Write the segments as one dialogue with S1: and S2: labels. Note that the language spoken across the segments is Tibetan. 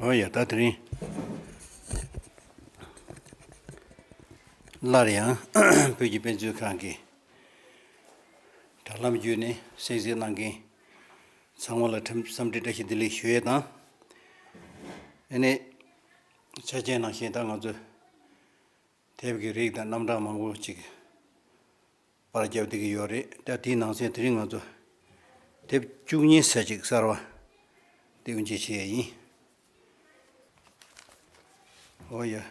S1: ཨོ་ཡ་ད་དེ་རིང་སླར་ཡང་བོད་ཀྱི་དཔེ་མཛོད་ཁང་གི་དྲ་ལམ་བརྒྱུད་ནས་གསན་གཟིགས་གནང་མཁན་ཚང་མ་ལ་ཁྲིམས་བསམ་འདྲི་བཀྲ་ཤིས་བདེ་ལེགས་ཞུ་ཡས་དང། ཨེ་ནས། ཆ་རྐྱེན་ནང་བཞིན་ད་ང་ཚོས། དེབ་ཀྱི་རིགས་དང་རྣམ་གྲངས་མང་པོ་ཅིག། པར་རྒྱབ་བསྡད་ཀྱི་ཡོད་རེད་ད་དེའི་ནང་ཚན་དེ་རིང་ང་ཚོ། དེབ་བཅུ་གཉིས་ས་ཅིག་གསར་བ། སྟེགས་འབྱེད་བྱེད་ཡས་ཡིན། ཨོ་ཡ།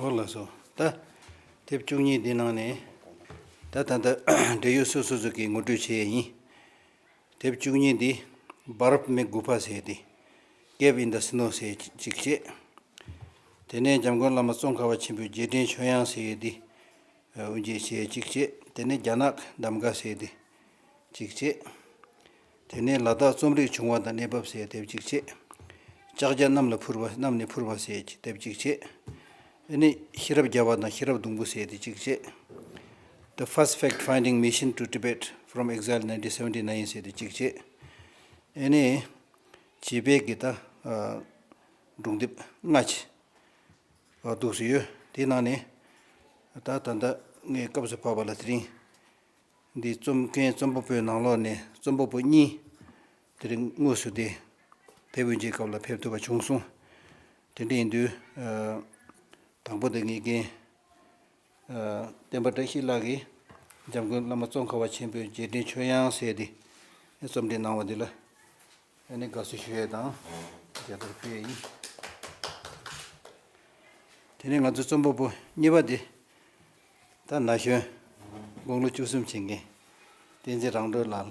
S1: འོ་ལགས་སོ། ད། དེབ་བཅུ་གཉིས་འདི་ནང་ནས། ད་ད་ལྟ་འབྲེལ་ཡོད་སོ་སོ་སོ་གིས་ངོ་སྤྲོད་བྱེད་ཡས་ཡིན། དེབ་བཅུ་གཉིས་འདི Bharat མི་དགུ་ཕ་ཟེར་ཏེ་སྐད་བིན་དཱ་སི་ནོ་ཟེར་ཅིག་བྱས། དེ་ནས་འཇམ་མགོན་བླ་མ་ཙོང་ཁ་བ་ཆེན་པོས་རྗེས་དྲན་ཆོས་དབྱངས་ཟེར་ཏེ་དབུ་འབྱེད་བྱས་ཅིག་བྱས། དེ་ནས་རྒྱ་ནག་གདམ་ག་ཟེར་ཏེ་ཅིག་བྱས། དེ་ནས་ལ་དྭགས་རྩོམ་རིག་བྱུང་བ་དང་གནས་བབ་ཟེར་དེབ་ཅིག་བྱས། ལྕགས་བྱ་གནམ་ལ་འཕུར་བ་གནམ་ནས་འཕུར་བ་ཟེར་དེབ་ཅིག་བྱས། འདི་ནི་ཤེས་རབ་བརྒྱ་པ་དང་ཤེས་རབ་སྡོང་པོ་ཟེར་ཏེ་གཅིག་བྱེད། The First Fact Finding Mission to Tibet From Exile Nineteen Seventy Nine ཟེར་ཏེ་གཅིག་བྱེད། ཨེ་ནི། བྱེད་དཔེ་གི་ད། སྒྲུང་དེབ་ལྔ། འདུག་སྲིད་ཡོད། དེའི་ནང་ནས། ད་ད་ལྟ་ངའི་སྐབས་སུ་བབས་པ་ལ་དེ་རིང། འདི་རྩོམ་མཁན་རྩོམ་པོ་པོའི་ནང་ལོགས་ནས་རྩོམ་པོ་པོ་གཉིས། དེ་རིང་དངོས་སུ་དེ། བེ་བོད་མཇལ་སྐབས་ལ་ཕེབས་ཐུབ་པ་བྱུང་སོང། དེ་འདྲ་ཡིན་དུས། དང་པོ་དེ་ངེད་རྒན། བསྟན་པ་བཀྲ་ཤིས་ལགས་ཀྱིས་འཇམ་མགོན་བླ་མ་ཙོང་ཁ་བ་ཆེན་པོའི་རྗེས་དྲན་ཆོས་དབྱངས་ཟེར་ཏེ་རྩོམ་འབྲི་གནང་བ་འདི་ལ་ཨ་ནེ་དགའ་བསུ་ཞུ་ཡས་དང་རྒྱ་མཚོར་སྤེལ་ཡས་ཡིན། དེ་ནས་ང་ཚོའི་རྩོམ་པ་པོ་གཉིས་པ་དེ། ད་ན་གཞོན། དགུང་ལོ་བཅུ་གསུམ་བྱེད་མཁན། བསྟན་འཛིན་རང་གྲོལ་ལགས་ལ།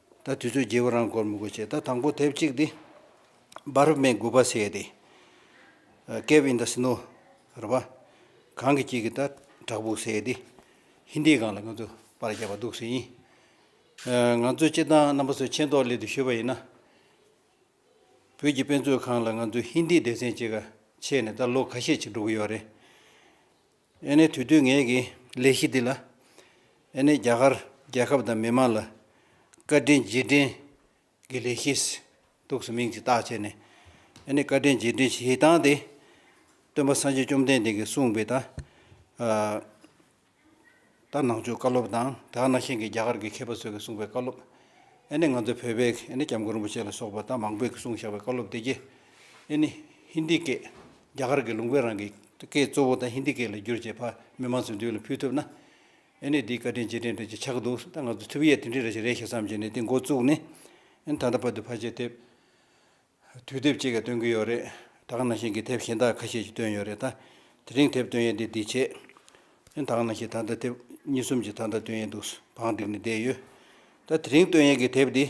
S1: ད་དུས་ཚོད་བརྗེ་བོ་རང་སྐོར་མི་དགོས་ཆེད་ད་དང་པོ་དེབ་གཅིག་འདི Bharat Meng དགུ་པ་ཟེར་ཡས་དེ། Cave in the Snow རེད་པ། གངས་ཀྱི་དཀྱིལ་གྱི་ད་བྲག་ཕུག་ཟེར་ཡས་དེ། Hindi གང་ལ་ང་ཚོས་པར་བརྒྱབ་པ་འདུག་ཟེར་ཡིན། ང་ཚོས་སྤྱི་བཏང་རྣམ་པ་ཚོས་མཁྱེན་རྟོགས་སླད་དུ་ཞུས་པ་ཡིན་ན། བོད་ཀྱི་དཔེ་མཛོད་ཁང་ལ་ང་ཚོས Hindi སྡེ་ཚན་གཅིག་ཁ་ཕྱེས་ནས་ད་ལོ་ཁ་ཤས་ཅིག་འགྲོ་གི་ཡོད་རེད། ཨེ་ནས་དུས་དུས་ངེད་ཀྱི་ལས་གཞི་འདི་ལ། ཨེ་ནས་རྒྱ་གར་རྒྱལ་ཁབ་དང་མི་དམངས་ལ། བཀའ་དྲིན་རྗེས་དྲན་གྱི་ལས་གཞིས་གཏུགས་སུ་མིང་ཅིག་བཏགས་བྱས་ནས། ཨེ་ནས་བཀའ་དྲིན་རྗེས་དྲན་བྱེད་སྟངས་དེ། སྟོན་པ་སངས་རྒྱས་བཅོམ་ལྡན་འདས་ཀྱིས་གསུངས་པའི་དང། ད་ནང་ཆོས་བཀའ་སློབ་དང་ད་གནའ་ཤེས་ཀྱི་རྒྱ་གར་གྱི་མཁས་པ་ཚོས་ཀྱི་གསུངས་པའི་བཀའ་སློབ། ཨེ་ནི་ང་ཚོ་བོད་པའི་ཨེ་ནི་སྐྱབས་མགོན་རིན་པོ་ཆེ་ལ་སོགས་པ་ད་མང་པོས་ཀྱི་གསུངས་བཞག་པའི་བཀའ་སློབ་དེ་བརྒྱད། ཨེ་ནི་ཧིན་དི་སྐད། རྒྱ་གར་གྱི་ལུང་པའི་རང་གི་སྐད་གཙོ་བོ་ད་ཧིན་དི་སྐད་ལ་བསྒྱུར་བྱས་ཕ་མི་མང་ཚོའི་མདུན་ལ་ཕུལ་ཐུབ་ན། ཨེ་ནི་དེའི་བཀའ་དྲིན་རྗེས་དྲན་འདྲ་ཅིག་ཆགས་འདུག་ད་ང་ཚོ་ཐུབ་ཡས་དེ་འདྲའི་རེ་ཞིག་རེད་ཞེས་བསམ་བྱས་ནས་དེ་འགོ་བཙུགས་ནས། ཨེ་ནི་ད་ལྟ་བར་དུ་ཕར་ཆེར་ཐེབས། དུས་དེབ་ཅིག་གི་སྟོན་གྱི་ཡོད་རེད། ད་ག་ནང་བཞིན་གྱི་དེབ་གཞན་དག་ཁ་ཤས་ཀྱི་སྟོན་ཡོད་རེད་ད། དེ་རིང་དེབ་སྟོན་ཡས་འདི་འདི་བྱས། ད་ག་ནང་བཞིན་ད་ལྟ་དེབ་གཉིས་གསུམ་གྱི་ད་ལྟ་སྟོན་ཡས་འདུག་བང་བསྒྲིགས་ནས་བསྡད་ཡོད། ད་དེ་རིང་སྟོན་ཡས་ཀྱི་དེབ་འདི།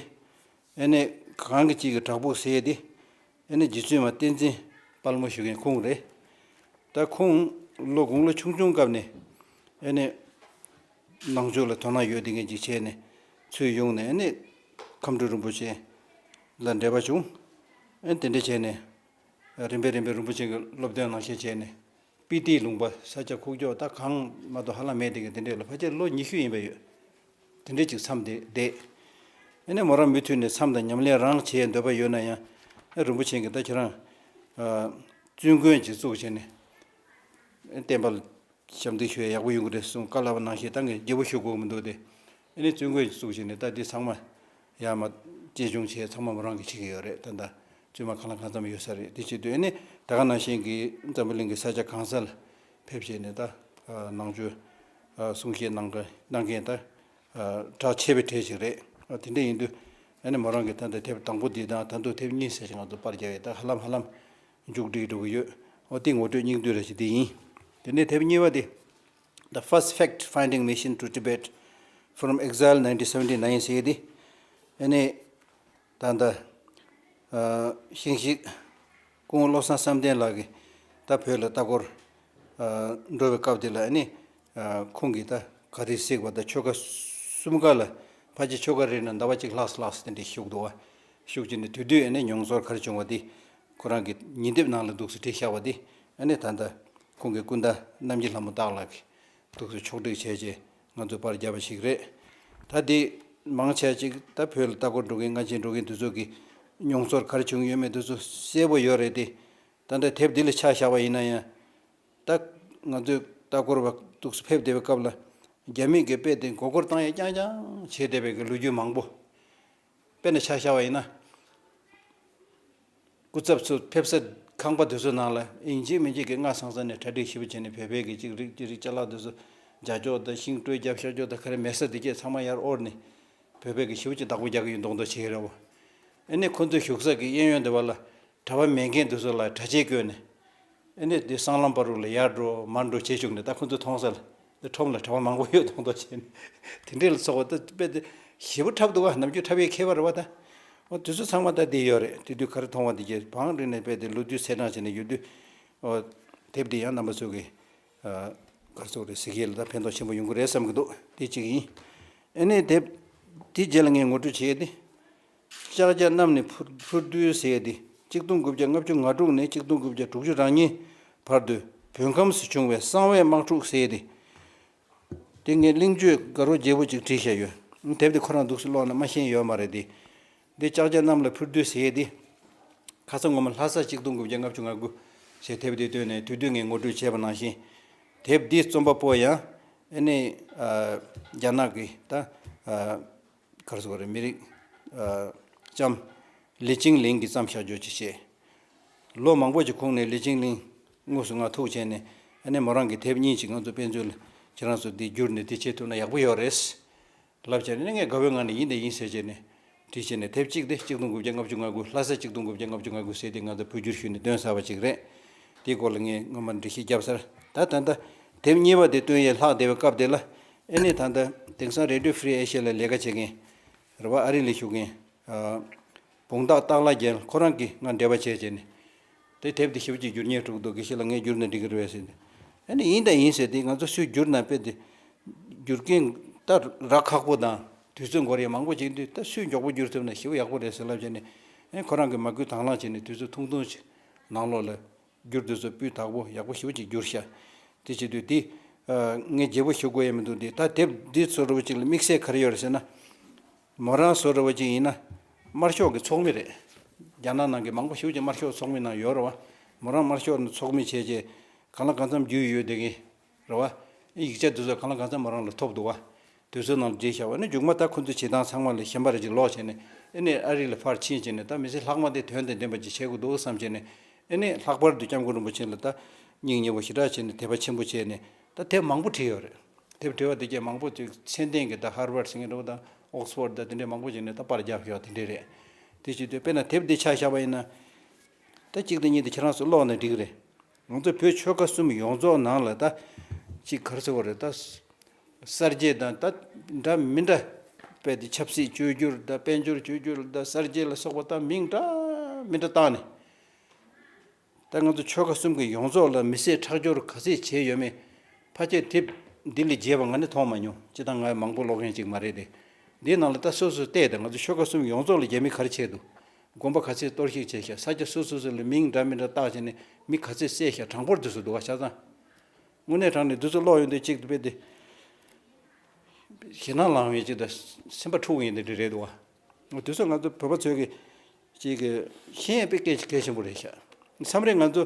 S1: ཨེ་ནས་གང་གི་གཅིག་གི་བྲག་ཕུག་ཟེར་འདི། ཨེ་ནས་རྗེ་བཙུན་མ་བསྟན་འཛིན་དཔལ་མོ་བཞུགས་མཁན་ཁུངས་རེད། ད་ཁུངས། ལོ་དགུང་ལོ་ཆུང་ཆུང་སྐབས་ནས། ཨེ་ནས། ནང་ཆོས་ལ་དོ་སྣང་ཡོད་དེ་མཁན་གྱི་ཆས་ནས་ཚུལ་ཡོང་ནས་ནི་ཁམས་སྤྲུལ་རིན་པོ་ཆེ་ལ་འབྲེལ་པ་བྱུང། དེ་འདྲ་བྱས་ནས་རིམ་པས་རིམ་པས་རིན་པོ་ཆེ་གི་སློབ་སྟོན་ནང་བཞིན་བྱས་ནས་སྤི་ཏིའི་ལུང་པ་ས་སྐྱ་ཁུག་ཀྱོག་ད་གང་མ་གཏོགས་ཧ་ལམ་མེད་དེ་གི་དེ་འདྲས་ལ་ཕ་ཁྱེད་ལོ་ཉི་ཤུ་ཡིན་པ་ཡོད་དེ་འདྲས་ཅིག་འཚམས་དེ་བསྡད། ནི་མོ་རང་མུ་མཐུད་ནས་འཚམས་དང་ཉམས་ལེན་རང་བྱེད་འདོད་པ་ཡོད་ན་ཡང་རིན་པོ་ཆེ་གི་ད་ཁྱེད་རང་བཙུན་དགོན་ཅིག་བཙུགས་བྱས་ནས་བསྟན་པ་ལ་ཞབས་འདེགས་ཞུ་ཡ་ཡག་པོ་ཡོང་གི་རེད་གསུངས་བཀའ་སླ་བ་གནང་བཞིན་ཏང་གི་རྒྱལ་པོ་ཞུ་དགོས་མི་འདུག་དེ། ཨེ་ནས་བཙུན་དགོན་གྱི་གཙུག་བྱས་ནས་ད་དེ་ཚང་མ། ཡ་མ། གཅེས་སྐྱོང་བྱས་ཚང་མ་མོ་རང་གིས་བྱེད་ཀྱི་ཡོད་རེད་ད། བཙུན་མ་གང་ལ་གང་འཚམ་ཡོད་ས་རེད་དེ་བྱེད་དུས་ཨེ་ནས་ད་ག་ནང་བཞིན་གྱི་འཛམ་བུ་གླིང་གི་ས་ཆ་གང་ས་ལ། ཕེབས་བྱས་ནས་ད། ནང་ཆོས། གསུང་བཤད་གནང་གི་གནང་མཁན་ད། གྲགས་ཆེ་བའི་གྲས་ཞིག་རེད། དེ་འདྲ་ཡིན་དུས། ཨེ་ནས་མོ་རང་གིས་ད་ད་དེབ་དང་པོ་འདི་དང་ད་འདུག་དེབ་གཉིས་ཟེར་བཞིན་ང་ཚོ་པར་རྒྱག་ཡས་ད་ཧ་ལམ་ཧ་ལམ། མཇུག་སྒྲིལ་འགྲོ་གི་ཡོད། ཨོ་ཏི་ངོ་སྤྲོད་སྙིང་བསྡུས་རེ་ཞིག་འདི་ཡིན། དེ་ནས་དེབ་གཉིས་པ་དེ། The First Fact Finding Mission to Tibet From Exile Nineteen Seventy Nine ཞེས་དེ་ཨེ་ནས་ད་ལྟ། ཤིང་གཞིས། སྐུ་ངོ་བློ་བཟང་བསམ་གཏན་ལགས་ཀྱིས་ད་བོད་ལ་ལྟ་སྐོར། འགྲོ་བའི་སྐབས་དེ་ལ་ཨེ་ནས། ཁོང་གིས་ད་ག་རེ་གཟིགས་པ་ད་ཆོལ་ཁ་གསུམ་ཀ་ལ་ཕ་ཆེ་ཆོལ་ཁ་རེ་ན་ཟླ་བ་གཅིག་ལྷག་སོ་ལགས་སོ་དེ་འདྲས་བཞུགས་འདུག་བ། ཤུགས་ཀྱིས་ནི་དུས་དུས་ནས་མྱོང་ཚོར་གར་བྱུང་བ་དེ་ཁོ་རང་གི་ཉིན་དེབ་ནང་ལ་འདུག་སེ་བྲིས་བཞག་པ་དེ་ནི་ད་ལྟ་ཁོང་གི་སྐུ་ཟླ་གནམ་གྱི་ལྷ་མོ་སྟག་ལགས་ཀྱིས་འདུག་སེ་ཕྱོགས་བསྒྲིགས་བྱས་རྗེས་ང་ཚོས་པར་བརྒྱབ་པ་ཞིག་རེད། ད་དེ་མང་ཆེ་གཅིག་ད་བོད་ལ་ལྟ་སྐོར་འགྲོ་མཁན་སྔ་ཕྱི་འགྲོ་མཁན་དེ་ཚོ་གི་མྱོང་ཚོར་གར་བྱུང་ཡོད་མེད་དེ་ཚོ་གསལ་པོ་ཡོད་རེད་དེ། ད་འདྲ་དེབ་འདི་ལ་ཆགས་བཞག་པ་ཡིན་ན་ཡང། ད་ང་ཚོས་ལྟ་སྐོར་བ་འདུག་སེ་ཕེབས་བསྡད་པའི་སྐབས་ལ་རྒྱ་མིས་གི་དཔེ་དེ་མགོ་སྐོར་བཏང་ཡ་རྐྱང་རྐྱང་བྱེད་བསྡད་པའི་གི་ལོ་རྒྱུས་མང་པོ། དཔེར་ན་ཆ་ཤ་བ་ཡིན་ན། སྐུ་ཚབ་ཚོས་ཕེབས་ས་ཁང་པ་དེ་ཚོའི་ནང་ལ་ཨིན་ཇིའི་མི་འཇིགས་ཀྱི་སྔགས་ཚང་ས་ནས་གྲ་སྒྲིག་ཞིབ་བྱས་ནས་བོད་པའི་གི་ཅིག་རིག་ཅིག་རིག་བྱ་ལག་དེ་ཚོ་འཇའ་ཅོག་དང་ཤིང་སྤྲོས་རྒྱབ་ཤར་ཅོག་དང་ཁ་རི་མེ་ས་དེ་བཅས་ཚང་མ་ཡར་དབོར་ནས་བོད་པའི་གི་ཞིབ་ཅིག་བདག་པོ་རྒྱག་གི་ཡོད་མདོག་མདོག་བྱེད་ཀྱི་རེད་བ། ཨེ་ནས་ཁོ་ཚོའི་བཞུགས་ས་གི་གཡས་གཡོན་དེ་བ་ལ་གྲྭ་བ་མེད་མཁན་དེ་ཚོ་ལ་གྲྭ་ཆས་བསྐོས་ནས། ཨེ་ནས་དེ་སྲང་ལམ་པར་རུ་ལ་ཡར་འགྲོ་མར་འགྲོ་བྱེད་བཅུག་ནས་ད་ཁོ་ཚོ་མཐོང་ས་ལ་དེ་ཁྲོམ་ལ་གྲྭ་བ་མང་པོ་ཡོད་མདོག་མདོག་བྱེད་ནས་དེ་འདྲས་ལ་ཚོགས་པ་ད་དཔེ་དེ་བཞི་པོ་འཁྲབ་འདུག་ག་ནམ་རྒྱུན་འཁྲབ་ཡས་ཁྱད་པར་བ་ད། ཨོ་དེ་ཚོ་ཚང་མ་ད་དེ་ཡོད་རེད་དེ་དུས་ག་རེ་མཐོང་བ་དེ་རྗེས་བང་རིང་ནས་དཔེ་དེ་ལོ་རྒྱུས་ཚེས་གྲངས་བྱས་ནས་ཡོད་དུས། ཨོ། དེབ་འདི་ཡང་རྣམ་པ་ཚོས་གི། སྒར་ཚོགས་རེད་ཟེར་གི་ལ་ད་ཕན་ཐོགས་ཆེན་པོ་ཡོང་གི་རེད་བསམ་གི་འདུག་དེ་གཅིག་ཡིན། ཨེ་ནས་དེབ་དེ་རྗེས་ལ་ངས་ངོ་སྤྲོད་བྱས་ཏེ། ལྕགས་བརྒྱ་རྣམས་ནི་ཕུར་བསྡུའི་ཟས་ཏེ་གཅིག་སྟོང་དགུ་བརྒྱ་ལྔ་བཅུ་ང་དྲུག་ནས་གཅིག་སྟོང་དགུ་བརྒྱ་དྲུག་ཅུ་རང་ཉིད་བར་དུ་བོད་ཁམས་སུ་བྱུང་བའི་གསང་བའི་དམག་འཁྲུག་ཟས་ཏེ། དེ་ངས་གླིང་བཅོས་དགའ་རོགས་རྒྱལ་པོ་གཅིག་བྲིས་བཞག་ཡོད། དེབ་དེ་ཁོ་རང་འདུག་སེ་ལོག་ན་མ་ཤེས་ཡོད་མ་རེད་དེ། འདི་ལྕགས་བརྒྱ་རྣམས་ལ་ཕུར་བསྡུའི་ཟས་ཏེ། ཁ་ས་ངོ་མ་ལྷ་ས་གཅིག་སྟོང་དགུ་བརྒྱ་ལྔ་བཅུ་ང་དགུ་ཞེས་དེབ་དེ་བཏོན་ནས་དུས་སྟོན་ངས་ངོ་སྤྲོད་བྱས་པ་ནང་བཞིན། དེབ་འདིའི་རྩོམ་པ་པོ་ཡང་ཨེ་ནེ། རྒྱ་ནག་གི་ད། གར་སོགས་རིགས་མི་རིགས། ལྕམ། ལི་ཅིང་ལིང་གིས་བརྩམས་ཤ་འཇོ་ཅི་བྱེད། ལོ་མང་པོ་ཞིག་ཁུངས་ནས་ལི་ཅིང་ལིང། དངོས་སུ་ངག་ཐུག་བྱས་ནས། ཨནེ་མོ་རང་གི་དེབ་གཉིས་ཅིག་ང་ཚོ་དཔེ་མཛོད་ལ་ཁྱེད་རང་ཚོ་འདི་བསྒྱུར་ནས་འདི་བྱེད་ཐུབ་ན་ཡག་པོ་ཡོད་རེད། ལབ་བྱས་ནས་ངས་དགའ་བོའི་ངང་ནས་ཡིན་དེ་ཡིན་ཟེར་བྱས་ནས། བྲིས་བྱས་ནས་དེབ་གཅིག་དེ་གཅིག་སྟོང་དགུ་བརྒྱ་ལྔ་བཅུ་ང་དགུ་ལྷ་སར་གཅིག་སྟོང་དགུ་བརྒྱ་ལྔ་བཅུ་ང་དགུ་ཟེར་དེ་ང་ཚོ་བོད་བསྒྱུར་ཞུས་ནས་བཏོན་ཟ་བ་ཅིག་རེད། དེའི་སྐོར་ལ་ངས་སྔོན་མར་འབྲི་གཞི་བརྒྱབ་སར་ད་ད་ད། དེབ་གཉིས་པ་དེ་བཏོན་ཡས་ལྷག་བསྡད་པའི་སྐབས་དེ་ལ། ཨེ་ནས་ད་ལྟ་དེང་སང Radio Free Asia ལ་ལས་ཀ་བྱེད་མཁན་རེ་བ་ཨ་རི་ལ་བཞུགས་མཁན། བུང་སྟག་སྟག་ལགས་རྒྱལ་ཁོ་རང་གིས་ང་འབྲེལ་བ་བྱས་བྱས་ནས། དེ་དེབ་དེ་ཞིབ་ཀྱིས་བསྒྱུར་ཉེས་འཁྲུག་འདུག་གི་ཞིག་ལ་ངས་བསྒྱུར་ནས་འབྲི་གི་རེད་བས་ཟེར་ཏེ། ཨེ་ནས་ཡིན་དང་ཡིན་ཟེར་ཏེ་ང་ཚོ་སུས་བསྒྱུར་ན་དཔེ་དེ་བསྒྱུར་མཁན། ད་རག་ཁག་པོ་དང་དུས་ཚོད་འགོར་ཡས་མང་པོ་བྱས་དུས་ད་སུས་མགྱོགས་པོ་བསྒྱུར་ཐུབ་ན་ཞིབ་ཡག་པོ་རེད་ཟེར་ལབ་བྱས་ནས། ཨེ་ཁོ་རང་གིས་མ་སྐུལ་དྭངས་བླངས་བྱས་ནས་དུས་ཚོད་ཐུང་ཐུང་ཞིག་ནང་ལོགས་ལ་བསྒྱུར་དུས་སོ་སྤུས་དག་པོ་ཡག་པོ་ཞིབ་ཅིག་བསྒྱུར་ཤ། དེ་བྱེད་དུས་འདི། ངས་རྒྱས་པོ་ཞུ་དགོས་ཡས་མི་འདུག་འདི་ད་དེབ་འདི་བཟོ་རུ་བ་ཅིག་ལ་དམིགས་བསལ་ག་རེ་ཡོད་རེད་ཟེར་ན། མོ་རང་བཟོ་རུ་བ་ཅིག་ཡིན་ན། དམར་ཤོག་གི་ཚོགས་མི་རེད། རྒྱ་ནག་ནང་གི་མང་པོ་ཞིབ་ཅིག་དམར་ཤོག་ཚོགས་མི་ནང་ཡོད་རུ་བ། མོ་རང་དམར་ཤོག་ཚོགས་མི་བྱས་རྗེས། གང་ལ་གང་འཚམ་རྒྱུས་ཡོད་བསྡད་ཀྱིན། རེ་བ། ཡིག་ཆ་འདི་ཚོ་གང་ལ་གང་འཚམ་མོ་རང་ལ་ཐོབ་འདུག་བ། དུས་ཚོད་ནང་དུ་བརྗེད་བཞག་བ་ནི་མཇུག་མ་ད་ཁོ་ཚོའི་བྱེད་སྟངས་ཚང་མ་ལས་གཞན་པ་རེ་གཅིག་ལོག་བྱས་ནས་ཨེ་ནས་ཨ་རིག་ལ་ཕར་ཕྱིན་བྱས་ནས་ད་མི་ཚེ་ལྷག་མ་དེ་དོན་དང་ལྡན་པ་ཅིག་བྱེད་དགོས་འདུག་བསམ་བྱས་ནས་ཨེ་ནས་ལྷག་པར་དུ་སྐྱབས་མགོན་རིན་པོ་ཆེ་ལ་ད་སྙིང་ཉེ་བོ་ཞེ་དྲག་བྱས་ནས་དད་པ་ཆེན་པོ་བྱས་ནས་ད་དེབ་མང་པོ་བྲིས་ཡོད་རེད་དེབ་བྲིས་བ་དེ་རྒྱས་མང་པོ་ཅིག་མཚན་ལྡན་གྱི་ད་ཧར་བར་སིངྒ་པོར་ད་ཨོགས་ཕོར་ད་དེ་འདྲས་མང་པོ་བྱས་ནས་ད་པར་རྒྱག་ཞོག་དེ་འདྲས་རེད་དེ་བྱེད་དུས་དཔེར་ན་དེབ་འདི་ཆགས་བཞག་པ་ཡིན་ན། ད་གཅིག་དང་གཉིས་དེ་ཁྱེད་རང་ཚོས་ཀློག་ནས་འགྲིག་རེད་ང་ཚོ་བོད་ཆོལ་ཁ་གསུམ་ཡོངས་རྫོགས་ནང་ལ་ད་གཅིག་གར་ཟེར་བ་རེད་ད། གསར་བརྗེ་དང་ད་འདྲ་མི་འདྲ་བས་ད་ཆབ་སྲིད་བཅོས་བསྒྱུར་ད་དཔལ་འབྱོར་བཅོས་བསྒྱུར་ད་གསར་བརྗེ་ལ་སོགས་པ་ད་མིང་འདྲ་མི་འདྲ་བཏགས་ནས། ད་ང་ཚོ་ཆོལ་ཁ་གསུམ་གྱི་ཡོངས་རྫོགས་ལ་མི་བསད་ཁྲག་སྦྱོར་ག་ཚད་བྱས་ཡོད་མེད་ཕ་སྐད་དེབ་འདི་ལས་རྒྱས་པ་ང་ནི་མཐོང་མ་མྱོང་སྤྱི་སྟངས་ང་ཡང་མང་པོ་ཀློག་མཁན་ཅིག་མ་རེད་དེ། འདིའི་ནང་ལ་ད་སོ་སོས་བལྟས་ད་ང་ཚོ་ཆོལ་ཁ་གསུམ་ཡོངས་རྫོགས་ལ་རྒྱ་མི་གར་ཆད་འདུག་དགོན་པ་ག་ཚད་གཏོར་བཤིག་བྱས་ཤག་ས་སྐྱ་སོ་སོ་སོ་ལ་མིང་འདྲ་མི་འདྲ་བཏགས་བྱས་ནས་མི་ག་ཚད་བསད་ཤག་གྲངས་འབོར་འདི་ཚོ་འདུག་ག་ཤག་ཚང། དངོས་གནས་དྲང་ནས་འདི་ཚོ་ལོག་ཡོང་དུས་གཅིག་དཔེ་དེ། ཞེད་སྣང་ལངས་ཡོང་གཅིག་དང་སེམས་པ་འཁྲུག་ཡོང་དེ་འདྲ་རེད་འདུག་ག། དུས་ཚོད་ང་ཚོ་བོད་པ་ཚོའི་གི་གཅིག་གི་ཤེས་ཡོན་དཔེ་གལ་ཆེན་པོ་རེད་ཤག་མཚམས་རེ་ང་ཚོ་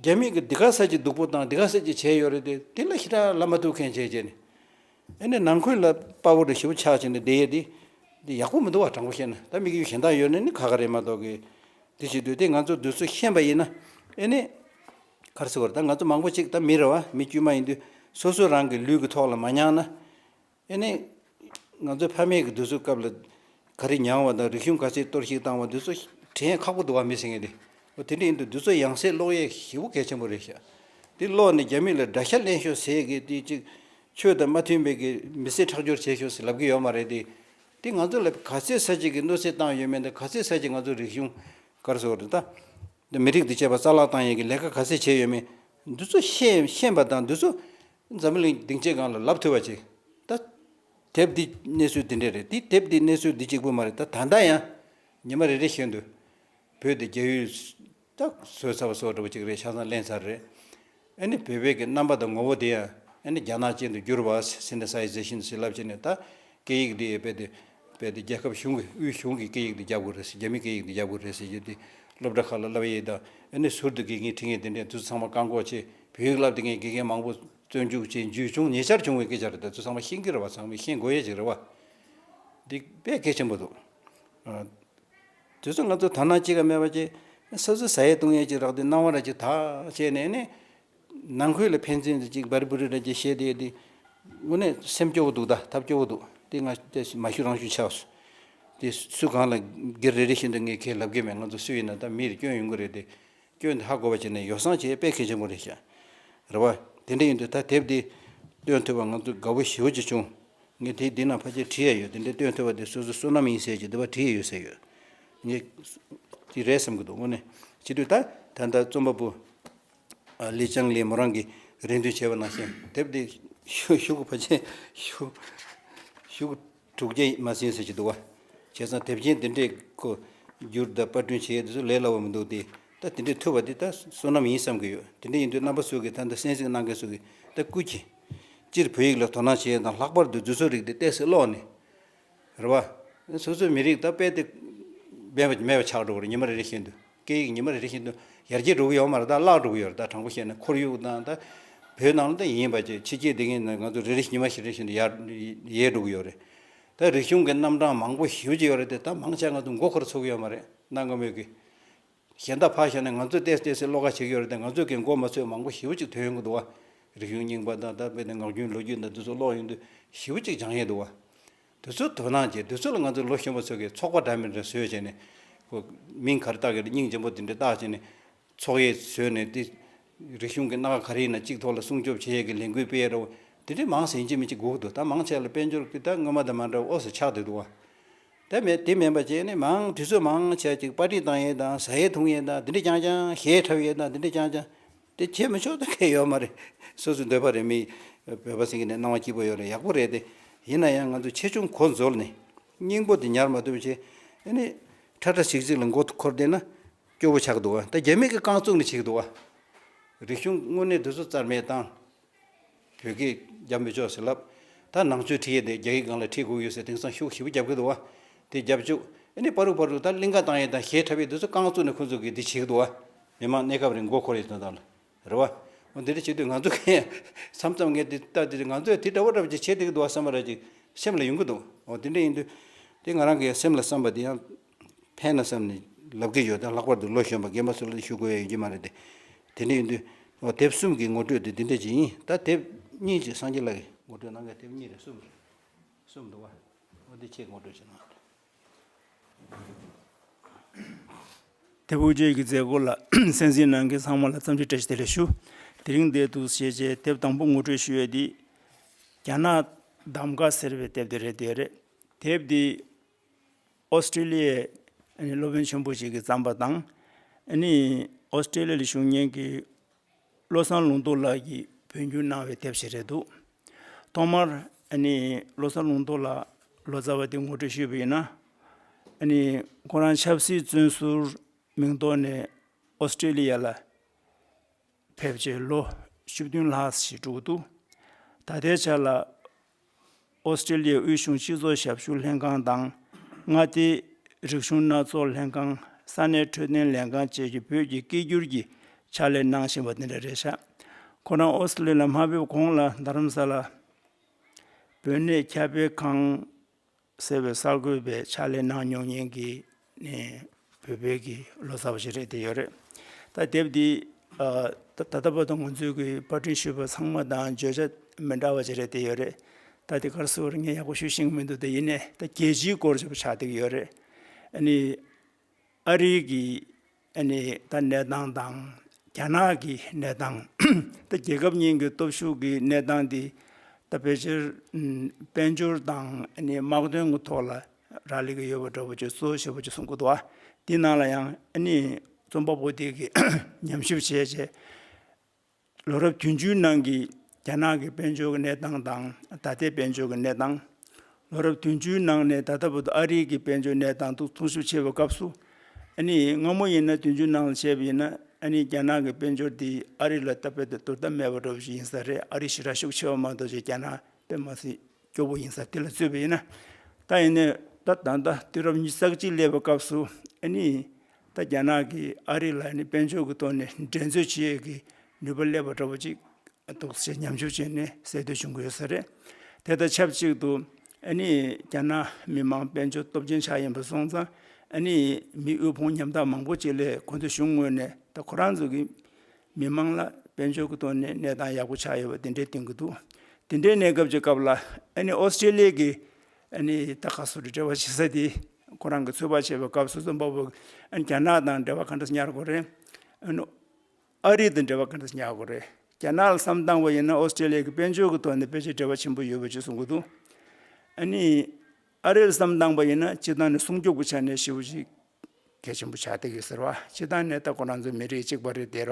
S1: རྒྱ་མིས་གི་འདི་ག་ས་ཅིག་སྡུག་པོ་དང་འདི་ག་ས་ཅིག་བྱས་ཡོད་རེད་དེ་དེ་ལ་ཞེ་དྲག་ལབ་མ་ཐུབ་མཁན་བྱས་བྱས་ནས། ཨེ་ནས་ནང་ཁུལ་ལ་དཔའ་བོ་འདྲ་ཞིབ་པོ་ཆགས་བྱས་ནས་བསྡད་ཡས་དེ། འདི་ཡག་པོ་མི་འདུག་བ་དྲང་པོ་བཤད་ན་ད་དམིགས་ཡུལ་གཞན་དག་ཡོད་ནི་ནི་ཁ་ཁ་རེད་མ་གཏོགས་གི། འདི་བྱེད་དུས་དེ་ང་ཚོ་དུས་ཚོད་ཤན་པ་ཡིན་ན། ཨེ་ནས། ཁར་སི་བར་ད་ང་ཚོ་མང་པོ་ཅིག་ད་མི་རེ་བ་མི་དཀྱུས་མ་ཡིན་དུས་སོ་སོའི་རང་གི་ལུས་ཀྱི་ཐོག་ལ་མ་མྱངས་ན། ཨེ་ནས། ང་ཚོའི་ཕ་མེས་ཀྱི་དུས་ཚོད་སྐབས་ལ། ག་རེ་མྱངས་བ་དང་རིག་གཞུང་ག་ཚད་གཏོར་བཤིག་བཏང་བ་འདི་ཚོ། དྲན་ཡས་ཁག་པོ་འདུག་བ་མི་ཟེར་ངེས་ཏེ། འོ་དེ་འདྲ་ཡིན་དུས་འདི་ཚོ་ཡང་སའི་ཀློག་ཡས་ཞིབ་པོ་གལ་ཆེན་པོ་རེད་ཤག། འདི་ཀློག་ནས་རྒྱ་མི་ལ་དགྲ་ཤ་གླན་ཤོག་ཟེར་གི་དེ་ཅིག། ཆོས་དང་མ་མཐུན་པའི་གི་མི་སེར་ཁྲག་སྦྱོར་བྱེད་ཤོག་ཟེར་ལབ་གི་ཡོད་མ་རེད་དེ། དེ་ང་ཚོ་ལ་ག་ཚད་ས་ཅིག་གི་གནོད་འཚེ་བཏང་ཡོད་མེད་དང་ག་ཚད་ས་ཅིག་ང་ཚོ་རིག་གཞུང་སྐར་ཚོགས་རེད་ད། དེ་མི་རིགས་དེ་བྱས་པ་རྩ་བརླག་བཏང་ཡན་གི་ལས་ཀ་ག་ཚད་བྱས་ཡོད་མེད་འདི་ཚོ་ཤེས་ཤེས་པ་དང་འདི་ཚོ་འཛམ་བུ་གླིང་སྡིངས་ཆའི་སྒང་ལ་ལབ་ཐུབ་པ་བྱེད་ད། དེབ་འདི་གནས་ཚུལ་འདི་འདྲ་རེད་དེ་དེབ་འདི་གནས་ཚུལ་འདི་གཅིག་པུ་མ་རེད་ད་ད་ལྟ་ཡང་ཉི་མ་རེ་རེ་བཞིན་དུ་བོད་དེ་རྒྱ་ཡུལ་ད་གཟོད་ཚ་བ་སོགས་འདྲ་བོ་གཅིག་རེད་ཆ་ཚང་གླེང་ཚར་རེད། ཨ་ནི་བོད་བོད་ཀྱི་རྣམ་པ་དང་ངོ་བོ་དེ་ཡང་ཨ་ནི་རྒྱ་ནག་ཅན་དུ་བསྒྱུར་བ་ཟིན་ན་ས་ཡི་རྫས་ཤིན་ཏུ་ཟིལ་རླབས་ཆེ་ནས་ད་སྐད་ཡིག་འདི་ཡི་རྦད་དེ་རྒྱལ་ཁབ་གཞུང་གི་དབུས་གཞུང་གི་སྐད་ཡིག་ཏུ་རྒྱབ་དགོས་རེད་ཟེར་རྒྱ་མི་སྐད་ཡིག་ཏུ་རྒྱབ་དགོས་རེད་ཟེར་གྱི་འདི་སློབ་གྲྭ་ཁག་ལ་བསླབ་ཡས་དང་ཨ་ནི་ཟུར་དུ་དགེ་རྒན་ཁྲི་ངས་དེ་འདྲས་འདུག་ཚང་མ་བཀག་འགོག་ཆེད་བོད་ཡིག་བསླབ་དེ་མཁན་དགེ་རྒན་མང་པོ་བཙོན་བཅུག་ཅེས་འཇུས་བྱུང་ཉེ་ཆར་བྱུང་བའི་སྐད་ཆ་རེད་ད་ཚོ་ཚང་མ་ཤེས་ཀྱི་རེད་བ་ཚང་མས་ཤེས་དགོས་ཡས་ཅིག་རེད་བ། འདི་དཔེ་གལ་ཆེན་པོ་འདུག། དུས་སུ་ང་ཚོ་དར་ནག་ཅི་ག་མེད་པ་ཅིག་སོ་སོའི་ཟ་ཡས་བཏུང་ཡས་ཅིག་རག་དུས་སྣང་བ་ར་ཅིག་དག་བྱས་ནས་ནི། ནང་ཁུལ་ལ་ཕན་ཚུན་དུ་ཅིག་འབར་འབུར་ར་ཅིག་བྱས་ཏེ་ཡོད་དུས། དངོས་གནས་སེམས་སྐྱོ་བོ་འདུག་ད་ཐབས་སྐྱོ་བོ་འདུག་དེ་སྔ་མ་ཞུ་རང་ཞུ་ཆགས་སོ། དེ་སུ་གང་ལ་སྒེར་རེ་རེ་བཞིན་དུ་ངས་ཁས་ལབ་ཀྱི་མེད་ང་ཚོ་སུ་ཡིན་ན་ད་མིར་སྐྱོན་ཡོང་གི་རེད་དེ། སྐྱོན་དེ་ཧ་གོ་བར་བྱས་ནས་ཡོ་བསྲང་བྱེད་དཔེ་གལ་ཆེན་པོ་རེད་བྱས། རེད་བ། དེ་འདྲ་ཡིན་དུས་ད་དེབ་འདི་སྟོན་ཐུབ་པར་ང་ཚོ་དགའ་བོ་ཞེ་བོ་ཅིག་བྱུང། ངས་དེབ་འདི་ནང་ཕར་ཆེར་བྲིས་ཡས་ཡོད་དེ་འདྲ་སྟོན་ཐུབ་པ་དེ་སོ་སོའི་བསོད་ནམས་ཡིན་ཟེར་གྱི་འདི་བ་བྲིས་ཡས་ཡོད་ཟེར་ཡོད། ངས། ཅིག་རེད་བསམ་གྱི་འདུག་དངོས་གནས་བྱེད་དུས་ད་ད་ལྟ་རྩོམ་པ་པོ། ལི་ཅང་ལིས་མོ་རང་གིས་རེ་འདུན་བྱས་པ་ནང་བཞིན་དེབ་འདི་ཞུ་དགོས་ཕར་ཆེར་ཞུ། དྲུག་བརྒྱ་ཡིས་མ་ཟིན་ཟེར་གྱི་འདུག་བ། བྱས་ཙང་དེབ་ཆེན་འདི་འདྲས་ཁོ། བསྒྱུར་བདག་དཔར་སྐྲུན་བྱེད་དེ་ཚོ་ལས་སླ་བོ་མི་འདུག་དེ་ལྟ་དེ་འདྲས་ཐུབ་པ་དེ་ད་བསོད་ནམས་ཡིན་བསམ་གྱི་ཡོད་དེ་འདྲས་ཡིན་དུས་རྣམ་པ་སུ་གིས་ད་འདི་གསན་གཟིགས་གནང་མཁན་སུ་གིས་ད་བསྐུལ་གྱིས། སྤྱིར་བོད་ཡིག་ལ་དོ་སྣང་བྱེད་དང་ལྷག་པར་དུ་རྫུན་བཟོ་རིགས་དེ་གཏད་སའི་ཀློག་ནི། རེད་བ། སོ་སོའི་མི་རིགས་ད་དཔལ་དེ། འབེན་མེད་པ་ཆགས་འགྲོ་གི་རེད་ཉི་མ་རེ་རེ་བཞིན་དུ། སྐད་ཡིག་ཉི་མ་རེ་རེ་བཞིན་དུ་ཡར་རྒྱས་འགྲོ་གི་ཡོད་མ་རེད་དཱ། བརླག་འགྲོ་གི་ཡོད་རེད་དཱ། དྲང་པོ་བཤད་ན་ཁོར་ཡུག་དང་དཱ། བོད་ནང་ལ་དཱ་ཡིན་པ་བཅས་ཕྱི་རྒྱལ་སྡེ་ལྔའི་ནང་ང་ཚོ་རེ་རེ་བཞིན་ཉི་མ་ཞིག་རེ་བཞིན་དུ་ཡར་རྒྱས་འགྲོ་གི་ཡོད་རེད་དཱ། རིག་གཞུང་གི་རྣམ་གྲངས་མང་པོ་ཞི་གི་ཡོད་རེད་དཱ། དཱ་མང་ཆེ་ང་ཚོ་མགོ་འཁོར་ཚུགས་ཀྱི་ཡོད་མ་རེད་དཱ་སྔ་མོ་གི། གཞན་དཱ་ཕར་བཤད་ན་ང་ཚོས་བལྟས་བལྟས་སའི་བློ་ཁ་ཞིག་ཡོད་རེད་དཱ། ང་ཚོས་གི་མགོ་མ་ཚོས་མང་པོ་ཞིབ་ཅིག་ཐོས་ཡོང་གི་འདུག་ཨ། རིག་གཞུང་རྙིང་པ་དང་དཱ་དཔེར་ན་ངག་རྒྱུན་ལོ་རྒྱུས་དང་འདི་ཚོ་ཀློག་ཡོང་དུས་ཞིབ་ཅིག་སྦྱངས་ཡས་འདུག་ཨ། དུས་ཚོད་དོ་སྣང་བྱེད་དུས་ཚོད་ལ་ང་ཚོ་ལོ་གཞོན་པ་ཚོ་གིས་ཚོགས་པ་འདྲ་མིན་འདྲ་བཟོས་བྱས་ནས། མིང་ག་རེ་བཏགས་ཀྱི་རེད་སྙིང་རྗེ་པོ་འདི་འདྲ་བཏགས་བྱས་ནས། ཚོགས་གཡས་བཟོས་ནས་དེ། རིག་གཞུང་གི་སྣ་ཁ་ག་རེ་ཡིན་ན་གཅིག་ཐོག་ལ་སྲུང་སྐྱོབ་བྱེད་ཡས་ཀྱི་ལས་འགུལ་སྤེལ་ཡས་རོགས། དེ་འདྲས་མང་ཟིན་ཅི་མི་ཅི་སྒུག་འདུག་ད་མང་ཆེ་ལ་དཔལ་འབྱོར་གྱི་ད་སྔོན་མ་དང་མ་འདྲ་བ་ཨོ་ཟེར་ཆགས་སྡོད་འདུག་བ། དེ་མེད་དེ་མེད་པ་བྱས་ནས་མང་དུས་ཚོད་མང་ཆེ་གཅིག་པར་ཏི་བཏང་ཡས་དང་ཟ་ཡས་འཐུང་ཡས་དང་དེ་འདྲས་ཀྱང་ཀྱང་ཞེས་ཁྲབ་ཡས་དང་དེ་འདྲས་ཀྱང་ཀྱང། དེ་བྱེད་མི་ཆོག་ཐུག་མཁན་ཡོད་མ་རེད། སོ་སོའི་འདོད་པ་རེད་མི། བོད་པ་སེང་གེ་ནི་སྣང་བ་སྐྱིད་པོ་ཡོད་རེད་ཡག་པོ་རེད་དེ། ཡིན་ན་ཡང་ང་ཚོས་ཆེ་ཆུང་གོ་འཛོལ་ནས། སྙིང་པོ་དེ་ཉར་མ་ཐུབ་ཕྱིན། ཨེ་ནི། ཁྲ་ཁྲ་ཆིག་ཆིག་ལ་མགོ་འཁོར་བསྡད་ན། སྐྱོ་བོ་ཆགས་འདུག་ཨ། ད་རྒྱ་མིག་གི་རྐང་བཙུགས་ནས་ཆིག་འདུག་ཨ། རིག་གཞུང་དངོས་གནས་འདི་ཚོ་རྩར་མེད་བཏང། བོད་སྐད་རྒྱབ་མི་ཆོག་ཟེར་ལབ། ད་ནང་ཆོས་ཁྲིད་ཡས་དེ་རྒྱ་ཡིག་སྒང་ལ་ཁྲིད་དགོས་ཡོད་ཟེར་དེང་སང་ཤུག་ཞིབ་རྒྱབ་གི་འདུག་བ། དེ་རྒྱབ་བཅུག། ཨེ་ནས་པ་རུག་པ་རུག་ད་གླིང་ཁ་དང་ཡས་དང་ཞེས་འཁྲབ་ཡས་དུས་སུ་རྐང་བཙུགས་ནས་ཁོ་ཚོ་གིས་འདི་བྱེད་གི་འདུག་བ། མི་མང་གནས་སྐབས་རིང་མགོ་འཁོར་ཡས་དོན་དག་ལ། རེད་བ། འོ་འདི་འདྲ་བྱེད་དུས་ང་ཚོ་གི། མཚམས་མཚམས་ངས་དེ་ལྟ་དེ་ང་ཚོ་ཡས་དེ་འདྲ་བ་འདྲ་བ་ཅིག་བྱེད་བསྡད་གི་འདུག་བ་བསམ་པ་ར་ཅིག་སེམས་ལ་ཡོང་གི་འདུག་བ་འདི་འདྲ་ཡིན་དུས། དེ་ང་རང་གི་ཡང་སེམས་ལ་བསམ་པ་དེ་ཡང། ཕན་ལ་བསམ་ནས་ལབ་ཀྱི་ཡོད་ད་ལྷག་པར་དུ་ལོ་གཞོན་པ་རྒན་པ་ཚོ་ལ་དེ་ཞུ་དགོས་ཡ་ཡོད་ཀྱི་མ་རེད་དེ། དེ་འདྲས་ཡིན་དུས། ཨོ་དེབ་གསུམ་གྱི་ངོ་སྤྲོད་དེ་འདི་འདྲས་ཅིག་ཡིན་ད་དེབ་གཉིས་ཀྱི་སངས་རྒྱས་ལགས་ཀྱིས་ངོ་སྤྲོད་གནང་མཁན་དེབ་གཉིས་རེད་གསུམ་རེད། གསུམ་འདུག་བ། ཨོ་འདི་ཁྱེད་ཀྱིས་ངོ་སྤྲོད་བྱས་གནང་རེད།
S2: དེ་བོད་ཆས་ཀྱི་མཛད་སྒོ་ལ་གསན་ཟིན་གནང་མཁན་ཚང་མ་ལ་རྩམ་ལྕེ་བཀྲ་ཤིས་བདེ་ལེགས་ཞུ། དེ་རིང་འདས་འདུག་ཞེས་བྱའི་དེབ་དང་པོ་ངོ་སྤྲོད་ཞུ་ཡས་འདི། རྒྱ་ནག་གདམ་ཀ་ཟེར་བའི་དེབ་དེ་རེད་དེ་རེད། དེབ་འདི། ཨོ་སི་ཀྲི་ལི་ཡའི་སློབ་དཔོན་ཆེན་པོ་ཞིག་གིས་བརྩམས་པ་དང། ཨོ་སི་ཀྲི་ལི་ཡའི་གཞུང་སྙན་གྱི་བློ་བཟང་ལུང་རྟོགས་ལགས་ཀྱིས་བོད་འགྱུར་གནང་བའི་དེབ་ཞིག་རེད་འདུག་ཐོག་མར། བློ་བཟང་ལུང་རྟོགས་ལགས་ལོ་ཙཱ་བ་དེ་ངོ་སྤྲོད་ཞུས་པ་ཡིན་ན། ཁོ་རང་ཆབ་སྲིད་བཙོན་ཟུར་མིང་ཐོག་ནས་ཨོ་སི་ཀྲི་ལི་ཡ་ལ་ཕེབས་རྗེས་ལོ་བཅུ་བདུན་ལྷག་ཞིག་དྲུག་འདུག་ད་ལྟའི་ཆར་ལ་ཨོ་སི་ཀྲི་ལི་ཡའི་དབུས་གཞུང་སྤྱི་ཚོགས་ཞབས་ཞུ་ལྷན་ཁང་དང། མངའ་སྡེའི་རིག་གཞུང་སྣ་ཚོགས་ལྷན་ཁང། ས་གནས་འཕྲོད་བསྟེན་ལས་ཁང་བཅས་ཀྱིས་བོད་ཀྱི་སྐད་བསྒྱུར་གྱི་ཕྱག་ལས་གནང་བཞིན་པ་འདི་འདྲ་རེད་ཤག་ཁོ་རང་ཨོ་སི་ལི་ལ་མ་ཕེབས་གོང་ལ་རྡ་རམ་ས་ལ་བོད་གནས་ཁྱབ་སྤེལ་ཁང། ཟེར་བའི་གསར་འགོད་པས་ཕྱག་ལས་གནང་མྱོང་མཁན་གྱི་ནི་བོད་བོད་ཀྱི་ལོ་ཙཱ་བ་ཞིག་རེད་དེ་ཡོད་རེད། ད་དེབ་འདི་ད་ལྟ་བར་དུ་ང་ཚོས་ཀྱི་པར་སྐྲུན་ཞུས་པ་ཚང་མ་དང་བརྗོད་བྱ་མི་འདྲ་བ་ཞིག་རེད་དེ་ཡོད་རེད། ད་དེ་གར་སོ་ངས་ཡག་པོ་ཞུས་ཤིང་མི་འདུག་དེ་ཡིན་ནས་ད་རྒྱལ་སྤྱིའི་སྐོར་ཞིག་པོ་ཆགས་བསྡད་ཀྱི་ཡོད་རེད། ཨ་རིའི་གི། ཨ་ནི་ད་གནས་སྟངས་དང། རྒྱ་ནག་གི་གནས་སྟངས། ད་རྒྱལ་ཁབ་གཉིས་ཀྱི་སྟོབས་ཤུགས་ཀྱི་གནས་སྟངས་འདི། ད་ཕལ་ཆེར་དཔལ་འབྱོར་དང་ཨ་ནི་དམག་དོན་གྱི་ཐོག་ལ་རག་ལས་ཀྱི་ཡོད་པ་འདྲ་བོ་ཅེས་སོ་ཞེས་པ་ཅིག་གསུངས་ཀྱི་འདུག་ཨ། འདི་ནང་ལ་ཡང་ཨ་ནི་རྩོམ་པ་པོ་དེ་གིས་ཉམས་ཞིབ་བྱས་རྗེས། ལོ་རབས་བདུན་ཅུའི་ནང་གི་རྒྱ་ནག་གི་དཔལ་འབྱོར་གྱི་གནས་སྟངས་དང་ད་ལྟའི་དཔལ་འབྱོར་གྱི་གནས་སྟངས། ལོ་རབས་བདུན་ཅུའི་ནང་ནས་ད་ལྟ་བར་དུ་ཨ་རིའི་གི་དཔལ་འབྱོར་གནས་སྟངས་དུ་ཐུང་ཤུགས་ཆེ་བའི་སྐབས་སུ། ཨ་ནི་སྔ་མོ་ཡིན་ན་བདུན་ཅུ་ནང་ལ་བཤད་པ་ཡིན་ན་ཨ་ནི་རྒྱ་ནག་གི་དཔལ་འབྱོར་འདི་ཨ་རི་ལ་ལྟ་བུ་དེ་དོ་ཟླ་མེད་པ་འགྲོ་བ་ཞིག་ཡིན་ས་རེད་ཨ་རི་ཞི་ར་ཤུགས་ཆེ་བ་མང་དོ་ཅོག་རྒྱ་ནག་དཔེ་མ་སྲིད། སྐྱོ་བོ་ཡིན་ས་དེ་ལ་རྩོད་པ་ཡིན། ད་ཡིན་ནའི་ད་ད་ད་དུས་རབས་ཉིས་བརྩེགས་གཅིག་སླེབས་པའི་སྐབས་སུ་ཨ་ནི་ད་རྒྱ་ནག་གིས་ཨ་རི་ལ་ནི་དཔལ་འབྱོར་གྱི་ཐོག་ནས་འགྲན་རྩོད་བྱེད་ཡས་ཀྱི་ནུས་པ་སླེབས་པ་འདྲ་པོ་ཅིག་འདུག་ཅེས་ཉམས་ཆུང་བྱས་ནས་གསལ་འདོད་བྱུང་གི་ཡོད་ས་རེད། དེ་དང་ཆབས་ཅིག་ཏུ་ཨ་ནི་རྒྱ་ནག་མི་དམངས་དཔལ་འབྱོར་སྟོབས་ཆེན་ཆགས་ཡིན་པ་སོང་ཙང་ཨ་ནི་མི་དབུལ་ཕོངས་ཉམ་ཐག་མང་པོ་ཅིག་ལས་ཁོ་ཚོ་གཞུང་ངོས་ནས་ད་ཁོ་རང་ཚོ་གི་མི་མང་ལ་དཔལ་འབྱོར་གྱི་ཐོག་ནས་གནས་སྟངས་ཡག་པོ་ཆགས་ཡོད་པ་དེ་འདྲའི་བསྟན་གྱི་འདུག་དེ་འདྲའི་གནས་སྐབས་ཀྱི་སྐབས་ལ་ཨ་ནི་ཨོ་སི་ཀྲེ་ལི་ཡའི་གིས་ཨ་ནི་ད་ག་སོ་རི་འབྲེལ་བ་བྱེད་ས་དེ་ཁོ་རང་གི་འཚོལ་བ་བྱེད་པའི་སྐབས་སུ་རྩོམ་པ་པོ་ཨ་ནི་རྒྱ་ནག་དང་འབྲེལ་བ་ག་འདྲ་སུ་ཉར་དགོས་རེད། ཨ་ནི་ཨ་རི་དང་འབྲེལ་བ་ག་འདྲ་སུ་ཉར་དགོས་རེད། རྒྱ་ནག་ལ་བསམ་བཏང་བ་ཡིན་ན་ཨོ་སི་ཀྲེ་ལི་ཡའི་གི་དཔལ་འབྱོར་གྱི་ཐོག་ནས་ཕལ་ཆེར་འབྲེལ་བ་ཆེན་པོ་ཡོད་པ་བཅས་གསུང་གི་འདུག་ཨ་ནི་ཨ་རི་ལ་བསམ་བཏང་བ་ཡིན་ན་སྤྱི་བཏང་ནས་སྲུང་སྐྱོབ་ཀྱི་ཆ་ནས་ཞེས་པ་ཞིག་གལ་ཆེན་པོ་ཆགས་བསྡད་ཡོད་ཟེར་བ། སྤྱི་བཏང་ནད་ལྟ་ཁོ་རང་ཚོ་མི་རིགས་གཅིག་པ་རེད་ཟེར་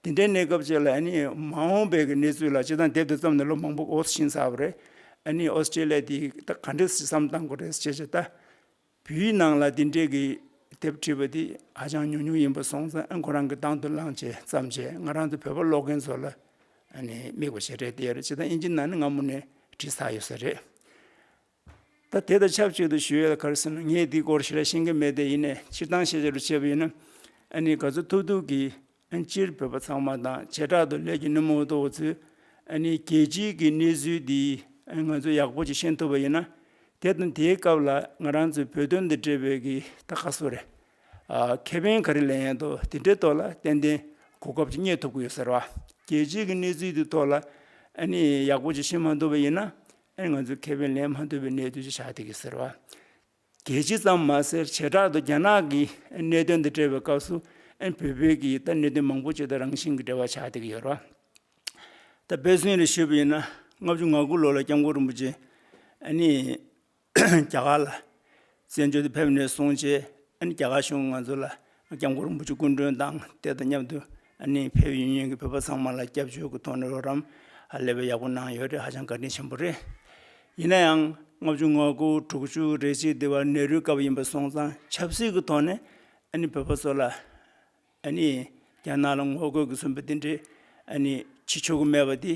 S2: བ། དེ་འདྲའི་གནས་སྐབས་ཅིག་ལ་ཨ་ནི་མ་འོངས་པའི་གནས་ཚུལ་ལ་སྤྱི་བཏང་དེབ་དེ་བརྩམས་ནས་ལོ་མང་པོ་འགོར་ཕྱིན་ས་བ་རེད། ཨ་ནི་ཨོས་ཏྲེ་ལི་ཡའི་དེ་ག་འདྲའི་བསམ་བཏང་དགོས་རེད་ཅེས་བྱས་ལྟ་བུའི་ནང་ལ་དེ་འདྲའི་གི་དེབ་བྲིས་པ་དེ་ཧ་ཅང་ཉུང་ཉུང་ཡིན་པ་སོང་ཙང་ཨ་ཁོ་རང་གི་དང་དུ་བླངས་ཆེད་བརྩམས་ཆེད་ང་རང་ཚོ་བོད་པ་ཀློག་མཁན་ཚོ་ལ་ཨ་ནི་དམིགས་པ་བྱས་རེད་ཟེར་སྤྱི་བཏང་དབྱིན་ཇིའི་ནང་ནས་སྔ་མོ་ནས་བྲིས་ཚར་ཡོད་ས་རེད། ད་དེ་དང་ཆབས་ཅིག་ཏུ་ཞུ་ཡོད་གར་སེམས་ན་ངས་འདིའི་སྐོར་ཞིག་ལ་ཤེས་ཀྱི་མེད་དེ་ཡིན་ནས་སྤྱིར་བཏང་ཤེས་བྱ་རུ་བྱས་པ་ཡིན་ན། ཨ་ནི་ག་ཚོད་ཐུབ་ཐུབ་ཀྱིས་ཨ་སྤྱིར་བོད་པ་ཚང་མ་དང་བྱེ་བྲག་ཏུ་ལས་ཀྱི་ནུབ་མོ་ཏོ་བ་ཚོས་ཨ་ནི་རྒྱལ་སྤྱིའི་གི་གནས་ཚུལ་འདི་ང་ཚོས་ཡག་པོ་ཅིག་ཤེས་ཐུབ་པ་ཡིན་ན། དེ་དང་དེའི་སྐབས་ལ་ང་རང་ཚོས་བོད་དོན་འདི་འབྲེལ་བའི་གི་ད་ག་སོ་རེད། ཁེ་ཕན་ག་རེ་ལེན་ཡང་དོ་དེ་འདྲའི་ཐོག་ལ་ཏན་ཏན་གོ་སྐབས་ཅིག་རྙེད་ཐུབ་ཀྱི་ཡོད་ཟེར་བ། རྒྱལ་སྤྱིའི་གི་གནས་ཚུལ་འདི་ཐོག་ལ་ཨ་ནི་ཡག་པོ་ཅིག་ཤེས་མ་ཐུབ་པ་ཡིན་ན། ཨེ་ང་ཚོས་མཁས་པའི་ལན་མ་ཐོས་པའི་གནད་དོན་ཅིག་ཆགས་འདུག་གི་ཟེར་བ། གལ་ཆེ་ཙམ་མ་ཟེར་བྱེ་བྲག་ཏུ་རྒྱ་ནག་གི་གནད་དོན་འདི་སྤྲད་པའི་སྐབས་སུ་བོད་བོད་ཀྱི་ད་གནད་དོན་མང་པོ་ཅིག་དང་རང་བཞིན་གྱི་འབྲེལ་བ་ཆགས་འདུག་གི་ཡོད་རེད་བ། ད་བེ་སུན་རེ་ཤོད་པ་ཡིན་ན་ལྔ་བཅུ་ང་དགུ་ལོ་ལ་སྐྱབས་མགོན་རིན་པོ་ཆེ་ནས་རྒྱ་གར་ལ་བཙན་བྱོལ་དུ་ཕེབས་ནས་སོང་རྗེས་རྒྱ་གར་གཞུང་ང་ཚོ་ལ་སྐྱབས་མགོན་རིན་པོ་ཆེ་སྐུ་མགྲོན་དང་དེ་དང་མཉམ་དུ་ཕེབས་ཡུན་ཡོན་གྱི་བོད་པ་ཚང་མ་ལ་སྐྱབས་བཅོལ་གྱི་ཐོག་ནས་རོགས་རམ་ལེ་བའི་ཡག་པོ་གནང་ཡོད་རེད་ཧ་ཅང་བཀའ་དྲིན་ཆེན་པོ་རེད། ཡིན་ན་ཡང་ལྔ་བཅུ་ང་དགུ་དྲུག་བཅུ་རེ་གཅིག་དེ་བར་ནེ་རུའི་སྐབས་ཡིན་པ་སོང་ཙང་ཆབ་སྲིད་ཀྱི་ཐོག་ནས་བོད་པ་ཚོ་ལ་རྒྱ་ནག་ལ་ངོ་རྒོལ་གྱི་གསུངས་པ་དེ་འདྲའི་བྱེད་ཆོག་གི་མེད་པ་དེ།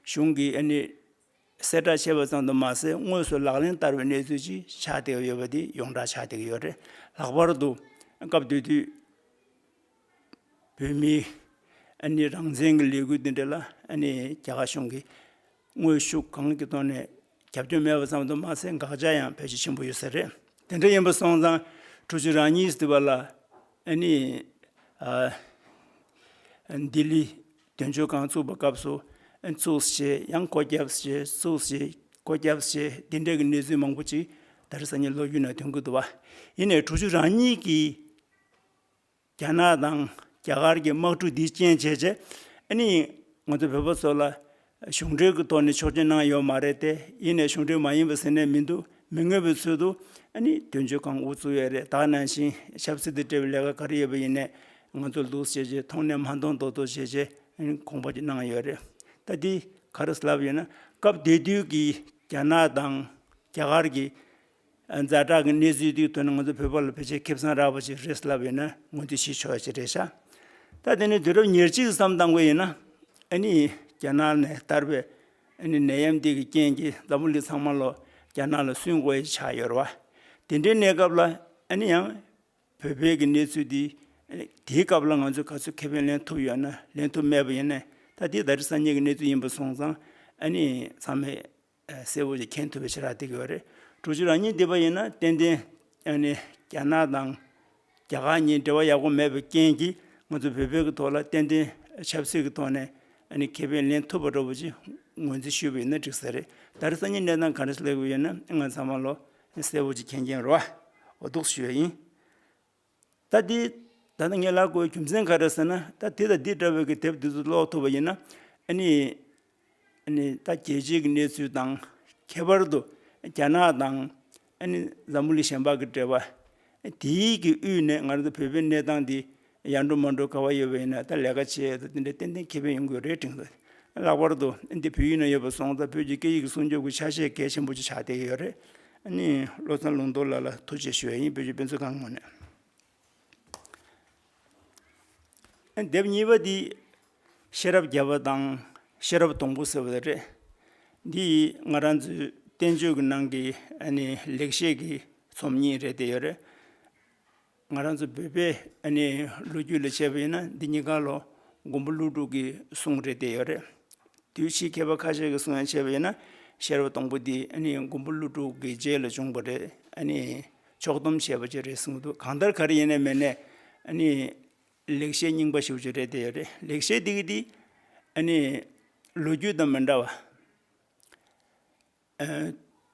S2: གཞུང་གི་གསལ་བསྒྲགས་བྱས་པ་ཙམ་དུ་མ་ཟད་དངོས་སུ་ལག་ལེན་བསྟར་བའི་གནས་ཚུལ་ཅིག་ཆགས་བསྡད་ཡོད་པ་དེ་ཡོངས་གྲགས་ཆགས་བསྡད་ཡོད་རེད། ལྷག་པར་དུ་སྐབས་དེ་དུས་བོད་མིའི་རང་བཙན་གྱི་ལས་འགུལ་དེ་འདྲ་ལ་རྒྱ་གར་གཞུང་གིས་དངོས་ཤུགས་གང་གི་ཐོག་ནས་རྒྱབ་སྐྱོར་མེད་པ་ཙམ་དུ་མ་ཟད་འགག་བྱ་ཡང་ཕལ་ཆེར་ཆེན་པོ་ཡོད་ས་རེད། དེ་འདྲ་ཡིན་པ་སོང་ཙང་ཁྲོ་ཆུ་རང་གཉིས་ཟེར་བ་ལ། ལྡི་ལི་དོན་གཅོད་ཁང་བཙུགས་པ་སྐབས་སུ། བཙུགས་ཞེས་ཡང་བསྐོ་བརྒྱབས་ཞེས་བཙུགས་ཞེས་བསྐོ་བརྒྱབས་ཞེས་འདི་འདྲའི་གནས་ཚུལ་མང་པོ་ཅིག་ད་རེས་སང་ཉིན་ལོ་རྒྱུས་ནང་དོན་གྱི་དུ་བ་ཡེ་ནས་དྲུག་ཅུ་རང་ཉིད་ཀྱིས་རྒྱ་ནག་དང་རྒྱ་གར་གྱི་དམག་འཁྲུག་འདིའི་རྐྱེན་བྱས་རྗེས། ཨ་ནི་ང་ཚོ་བོད་པ་ཚོ་ལ་གཞུང་འབྲེལ་གྱི་ཐོག་ནས་ཆོག་མཆན་གནང་ཡོད་མ་རེད་དེ། ཡེ་ནས་གཞུང་འབྲེལ་མ་ཡིན་པ་ཟེར་ནས་མི་འདུག་མི་ངོ་བའི་ཚུལ་དུ། ཨ་ནི་དོན་གཅོད་ཁང་འུ་བཙུགས་ཡོད་རེད་དྭགས་ནང་བཞིན་ཆབ་སྲིད་དུ་སྤྲེལ་བའི་ལས་ཀ་ག་རེ་ཡོད་པ་ཡིན་ནས། ང་ཚོ་ལུས་ཤེས་བྱའི་མཐོང་སྣེ་མ་མཐོང་དོ་དོ་ཤེས་བྱའི་དགོངས་པ་གཅིག་གནང་ཡོད་རེད། ད་འདི་ག་རེ་ལབ་ཡོད་ན་སྐབས་དེ་དུས་ཀྱི་རྒྱ་ནག་དང་རྒྱ་གར་གྱི་མཛའ་གྲགས་ཀྱི་གནས་ཚུལ་དུས་དོན་ང་ཚོ་བོད་པ་ལ་ཕལ་ཆེར་ཁེ་བཟང་རག་པ་ཞིག་རེད་ལབ་ཡོད་ན་ངོས་འདོད་ཞུས་ཆོག་ཅིག་རེད་ཤག། ད་དེ་ནས་དུས་རབས་ཉེར་གཅིག་ཙམ་བཏང་དགོས་ཡོད་ན། ཨ་ནི་རྒྱ་ནག་ནས་བསྟར་པའི་ཨ་ནི་ནད་ཡམས་དེ་གི་རྐྱེན་གྱིས་འཛམ་བུ་གླིང་ཚང་མ་ལོ་རྒྱ་ནག་ལ་སུན་དགོས་ཡི་ཆགས་ཡོད་རེད་བ། དེ་འདྲའི་གནས་སྐབས་ལ་ཨ་ནི་ཡང་བོད་པའི་གི་གནས་ཚུལ་འདི། དེའི་སྐབས་ལ་ང་ཚོས་ག་ཚོད་ཁེ་ཕན་ལེན་ཐུབ་ཡོད་ན་ལེན་ཐུབ་མེད་པ་ཡིན་ནས་ད་དེ་ད་རི་སང་ཉིན་གི་གནས་ཚུལ་ཡིན་པ་སོང་ཙང་ཨ་ནི་ཚང་མས་གསལ་བོ་ཞིག་མཁྱེན་ཐུབ་པའི་ཕྱིར་རག་འདེགས་ཀྱི་ཡོད་རེད། དྲུག་ཅུ་རང་ཉིད་འདི་པ་ཡིན་ན་ཏན་ཏན་ཨ་ནི་རྒྱ་ནག་དང་རྒྱ་གར་གཉིས་འབྲེལ་བ་ཡག་པོ་མེད་པའི་རྐྱེན་གྱིས་ང་ཚོ་བོད་པའི་གི་ཐོག་ལ་ཏན་ཏན་ཆབ་སྲིད་ཀྱི་ཐོག་ནས་ཨ་ནི་ཁེ་ཕན་ལེན་ཐུབ་པ་འགྲོ་བ་ཅིག་ངོས་འཛིན་ཞུས་པ་ཡིན་ན་འགྲིག་ས་རེད། ད་རི་སང་ཉིན་གནས་སྟངས་ག་རེ་ཞིག་ལེགས་པ་ཡོད་ན་ང་ཚང་མ་ལོ་གསལ་བོ་གཅིག་མཁྱེན་མཁྱེན་རུ་བ་འོ་དོགས་སུ་ཞུ་བ་ཡིན། ད་འདི་ད་ནི་ངས་ལག་དགོས་རྒྱུ་མཚན་ག་རེ་ཟེར་ན་ད་དེ་དང་འདི་འདྲ་བའི་གི་དེབ་འདི་ཚོ་ཀློག་ཐུབ་པ་ཡིན་ན་ཨ་ནི་ཨ་ནི་ད་རྒྱལ་སྤྱིའི་གི་གནས་ཚུལ་དང་ཁྱད་པར་དུ་རྒྱ་ནག་དང་ཨ་ནི་འཛམ་བུ་གླིང་གཞན་པ་གི་འབྲེལ་བ་དེའི་གི་དབུས་ནས་ང་རང་ཚོ་བོད་པའི་གནས་སྟངས་འདི་ཡར་འགྲོ་མར་འགྲོ་ག་བ་ཡོད་པ་ཡིན་ན་ད་ལས་ཀ་བྱེད་ད་འདི་འདྲའི་ཏན་ཏན་ཁེ་ཕན་ཡོང་གི་རེད་དྲན་གི་རེད། ལྷག་པར་དུ་འདི་བོད་ཡིག་ནང་ཡོད་པ་སོང་ཙང་བོད་ཀྱི་སྐད་ཡིག་གི་སྲུང་སྐྱོབ་ཀྱི་ཆ་ཤས་གལ་ཆེན་པོ་ཅིག་ཆགས་བསྡད་ཀྱི་ཡོད་རེད། ནི་བློ་བཟང་ལུང་རྟོགས་ལགས་ལ་ཐུགས་རྗེ་ཞུ་ཡ་ཡིན་བོད་ཀྱི་དཔེ་མཛོད་ཁང་ངོ་ནས། དེབ་གཉིས་པ་འདི་ཤེས་རབ་བརྒྱ་པ་དང་ཤེས་རབ་སྡོང་པོ་ཟེར་བ་རེད། འདི་ང་རང་ཚོའི་བསྟན་བཅོས་ཀྱི་ནང་གི་ནི་ལེགས་བཤད་ཀྱི་ཚོམས་གཉིས་རེད་བསྡད་ཡོད་རེད། ང་རང་ཚོ་བོད་པའི་ཨ་ནེའི་ལོ་རྒྱུས་ལ་དཔྱད་པ་ཡིན་ན་འདི་གཉིས་ཀ་ལོ་མགོན་པོ་ཀླུ་སྒྲུབ་ཀྱི་གསུང་རེད་བསྡད་ཡོད་རེད། དུས་ཕྱིས་མཁས་པ་ཁ་ཤས་ཀྱི་གསུང་ཡང་དཔྱད་པ་ཡིན་ན་ཤེར་བ་སྟོང་པོ་འདི་ཨ་ནེའི་མགོན་པོ་ཀླུ་སྒྲུབ་ཀྱི་རྗེས་ལ་བྱུང་བ་རེད་ཨ་ནེའི་ཕྱོགས་བསྡོམས་བྱས་པ་ཅིག་རེད་གསུང་གི་འདུག་གང་ལྟར་ག་རེ་ཡིན་ནའི་མེད་ནའི་ཨ་ནེའི་ལེགས་བཤད་རྙིང་པ་ཞིག་ཅིག་རེད་བསྡད་ཡོད་རེད་ལེགས་བཤད་འདི་གི་འདི་ཨ་ནེའི་ལོ་རྒྱུས་དང་མི་འདྲ་བ།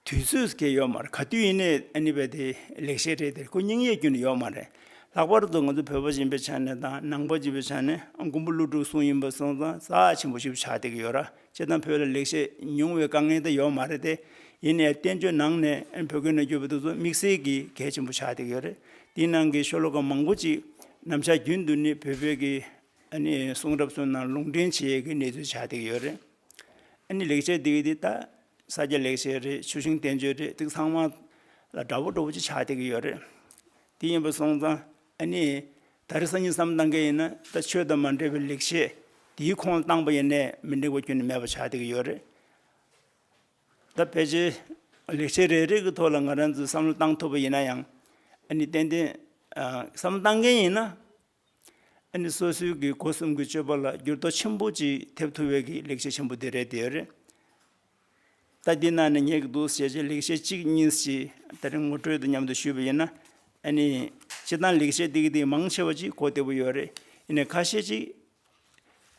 S2: དུས་ཚོད་ཀྱི་ཡོད་མ་རེད་ག་དུས་ཡིན་ནའི་ཨཱནི་བ་དེ་ལེགས་བཤད་རེད་དེར་ཁོ་སྙིང་ཡེ་རྒྱུ་ནི་ཡོད་མ་རེད། ལྷག་པར་དུ་ང་ཚོ་བོད་པ་ཅན་པའི་ཆ་ནས་དང་ནང་པ་ཅན་པའི་ཆ་ནས་མགོན་པོ་ཀླུ་སྒྲུབ་གསུང་ཡིན་པ་སོང་ཙང་རྩ་ཆེན་པོ་ཞིག་ཏུ་ཆགས་བསྡད་ཀྱི་ཡོད་ར་སྤྱིར་བཏང་བོད་ལ་ལེགས་བཤད་ཉུང་བའི་དཀའ་ངལ་དེ་ཡོད་མ་རེད་དེ། ཡིན་ནའི་བསྟན་བཅོས་ནང་ནས་བོད་སྐད་ནང་བསྒྱུར་བ་དེ་ཚོ་དམིགས་བསལ་གྱི་གལ་ཆེན་པོ་ཆགས་བསྡད་ཀྱི་ཡོད་རེད། དེའི་ནང་གི་ཤོ་ལོ་ཀ་མང་པོ་ཅིག་ནམ་ཆགས་རྒྱུན་དུ་ནི་བོད་པའི་གི་ཨཱནི་གསུང་རབ་ཚོའི་ནང་ལུང་འདྲེན་བྱེད་ཀྱི་གནས་ཚུལ་ཆགས་བསྡད་ཀྱི་ཡོད་རེད། ཨ་ནི་ལེགས་བྱས་འདི་ད་ས་སྐྱ་ལེགས་བྱས་རེད་ཆུ་ཤིང་བསྟན་བཅོས་རེད་ཐིག་ཚང་མ་ལ་དགྲ་བོ་དྲོ་བོ་ཅིག་ཆགས་བསྡད་ཀྱི་ཡོད་རེད། དེ་ཡིན་པ་སོང་ཙང་ཨ་ནི་ད་རེ་སང་ཉིན་བསམ་གཏང་མཁན་ཡིན་ན་ད་ཆོས་དང་མ་འབྲེལ་བའི་ལེགས་བྱས་དེའི་ཁོངས་ལ་བཏང་པ་ཡིན་ནས་མི་འགྲིག་པ་རྒྱུན་ནས་མེད་པ་ཆགས་བསྡད་ཀྱི་ཡོད་རེད། ད་ཕལ་ཆེར་ལེགས་བྱས་རེ་རེ་གི་ཐོག་ལ་ང་རང་ཚོས་བསམ་བློ་བཏང་ཐུབ་པ་ཡིན་ན་ཡང་ཨ་ནི་ཏན་ཏན་བསམ་བློ་བཏང་མཁན་ཡིན་ན་ཨ་ནི་སོ་སོའི་གི་སྒོ་གསུམ་གི་སྤྱོད་པ་ལ་འགྱུར་ལྡོག་ཆེན་པོ་ཅིག་ཐེབས་ཐུབ་བའི་གི་ལེགས་བཤད་ཆེན་པོ་དེ་རེད་དེ་རེད། ད་འདི་ན་ནི་ཉེ་གི་འདུག་ཞེས་བྱའི་ལེགས་བཤད་གཅིག་གཉིས་ཅིག་ད་རིང་ངོ་སྤྲོད་དུ་མཉམ་དུ་ཞུས་པ་ཡིན་ན། ཨ་ནི་སྤྱིར་བཏང་ལེགས་བཤད་ཏིག་ཏིག་མང་ཆེ་བ་ཅིག་གོ་བདེ་བོ་ཡོད་རེད། ཡིན་ནས་ཁ་ཤས་ཅིག་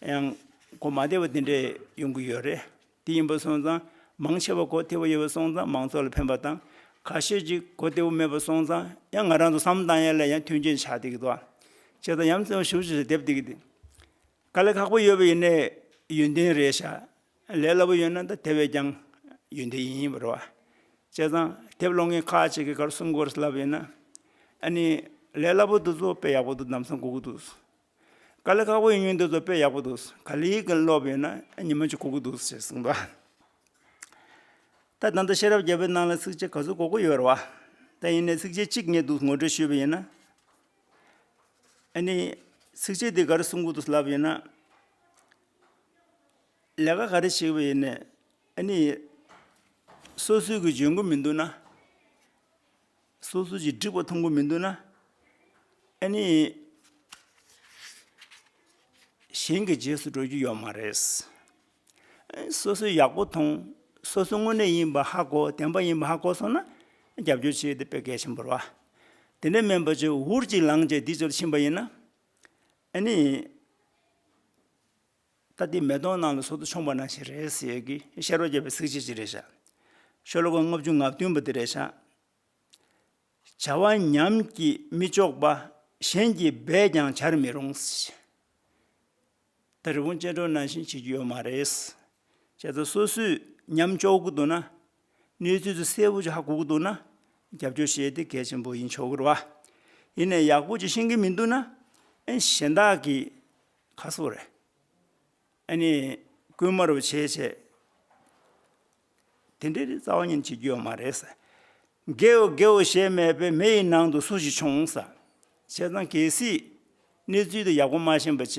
S2: ཡང་གོ་མ་བདེ་བ་དེ་འདྲས་ཡོང་གི་ཡོད་རེད། དེ་ཡིན་པའི་སོང་ཙང་མང་ཆེ་བ་གོ་ཐེ་བོ་ཡོད་པའི་སོང་ཙང་མང་ཚོགས་ལ་ཕན་པ་དང། ག་ཤེད་ཅིག་གོ་ཐེ་བོ་མེད་པའི་སོང་ཙང་ཡང་ང་རང་ཚོ་བསམ་བཏང་ཡས་ལ་ཡང་མཐུན་རྐྱེན་ཆགས་ཐིག་ཏོ། ཅེས་དང་ཡམ་ཚེ་བ་ཞུ་ཞེས་སོགས་དེབ་ཐིག་གི། ག་ལས་ཁག་པོ་ཡོད་པ་ཡིན་ནས་ཡོན་ཏན་རེད་ཤག་ལས་སླ་པོ་ཡོད་ན་ད་དེ་བས་ཀྱང་ཡོན་ཏན་ཡིན་པར་རོ། ཅེས་དང་དེབ་ཀློག་མཁན་ཁག་ཅིག་གིས་གར་སོང་གོ་རེ་ལབ་ཡོད་ན། ཨ་ནི་ལས་སླ་པོ་འདུག་ཚོགས་པས་ཡག་པོ་འདུག་གདམ་ས་འགོག་གི་འདུག། ག་ལེ་ཁག་པོ་ཡིན་ཡོད་འདུག་ཟོ་དཔེ་ཡག་པོ་འདུག་ག་ལེའི་གིན་ཀློག་པའི་ན་ཉི་མ་ཅུ་གོ་གི་འདུག་ཟེར་གསུངས་འདུག་ད་ད་ལྟ་ཤེས་རབ་རྒྱལ་པོའི་ནང་ལ་ཚིགས་བཅད་ག་ཚོད་གོ་གི་ཡོད་རེད་བ། ད་ཡིན་ནའི་ཚིགས་བཅད་གཅིག་རྙེད་འདུག་ངོ་སྤྲོད་ཞུས་པ་ཡིན་ན། ཨ་ནི། ཚིགས་བཅད་འདི་ག་རེ་གསུང་གི་འདུག་ལབ་པ་ཡིན་ན། ལས་ཀ་ག་རེ་བྱེད་པ་ཡིན་ནས་ཨ་ནི། སོ་སོའི་གི་འཇོན་གི་མི་འདུག་ན། སོ་སོ་ཀྱིས་བསྒྲིགས་པ་མཐོང་གི་མི་འདུག་ན། ཨེ་ནི། གཞན་གྱི་རྗེས་སུ་འགྲོ་རྒྱུ་ཡོད་མ་རེད། སོ་སོས་ཡག་པོ་མཐོང། སོ་སོ་དངོས་གནས་ཡིན་པ་ཧ་གོ་བདེན་པ་ཡིན་པ་ཧ་གོ་སོང་ན། རྒྱབ་སྐྱོར་བྱེད་དེ་དཔེ་གལ་ཆེན་པོར་བ། དེ་འདྲའི་སྨན་པ་ཚོས་འུར་གྱིས་ལངས་རྗེས་འདི་ཚོར་ཕྱིན་པ་ཡིན་ན། ཨེ་ནི། ད་ལྟའི་མེ་དོང་ནང་ལ་སོ་ཐོ་ཆོངས་པ་ན་ཞིག་རེད་ཟེར་ཡས་ཀིས་ཤར་བ་རྒྱབ་པའི་ཚིག་བྱེད་ཅིག་རེད་བྱ། ཤོ་ལོ་ཀ་ལྔ་བཅུ་ང་བདུན་པ་དེ་རེད་བྱ། བྱ་བ་ཉམས་ཀྱིས་མི་ལྕོགས་པ་གཞན་གྱིས་འབད་ཀྱང་བྱར་མི་རུང། ད་རི་བོང་ཅལ་འདྲོགས་ནང་བཞིན་བྱེད་ཀྱི་ཡོད་མ་རེད། བྱས་ཙང་སོ་སོས་ཉམས་ལྕོགས་གི་འདུག་ན། གནས་ཚུལ་དེ་གསལ་བོ་ཆགས་དགོས་ཀྱི་འདུག་ན། རྒྱབ་སྐྱོར་བྱས་ཏེ་གལ་ཆེན་པོ་ཡིན་ཆོག་གི་རེད་བ། ཡིན་ནས་ཡག་པོ་ཅིག་ཤེས་ཀྱི་མི་འདུག་ན། གཞན་དག་གིས། ཁ་གསོ་རེད། ཨ་ནི། རྐུན་མ་རུ་བྱེད་བྱེད། དེ་འདྲའི་རྩ་བ་ཉིད་བྱེད་རྒྱུ་ཡོད་མ་རེད་ཟེར། དགེའོ་དགེའོ་ཞེས་སྨྲས་པས་མེ་ཡི་ནང་དུ་སུ་ཞིག་བྱུང་ཟེར། བྱས་ཙང་གལ་སྲིད། གནས་ཚུལ་དེ་ཡག་པོ་མ་ཤེས་པ་བྱས།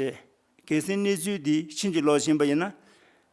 S2: གལ་སྲིད་གནས་ཚུལ་འདི་ཕྱིན་ཅི་ལོག་ཕྱིན་པ་ཡིན་ན།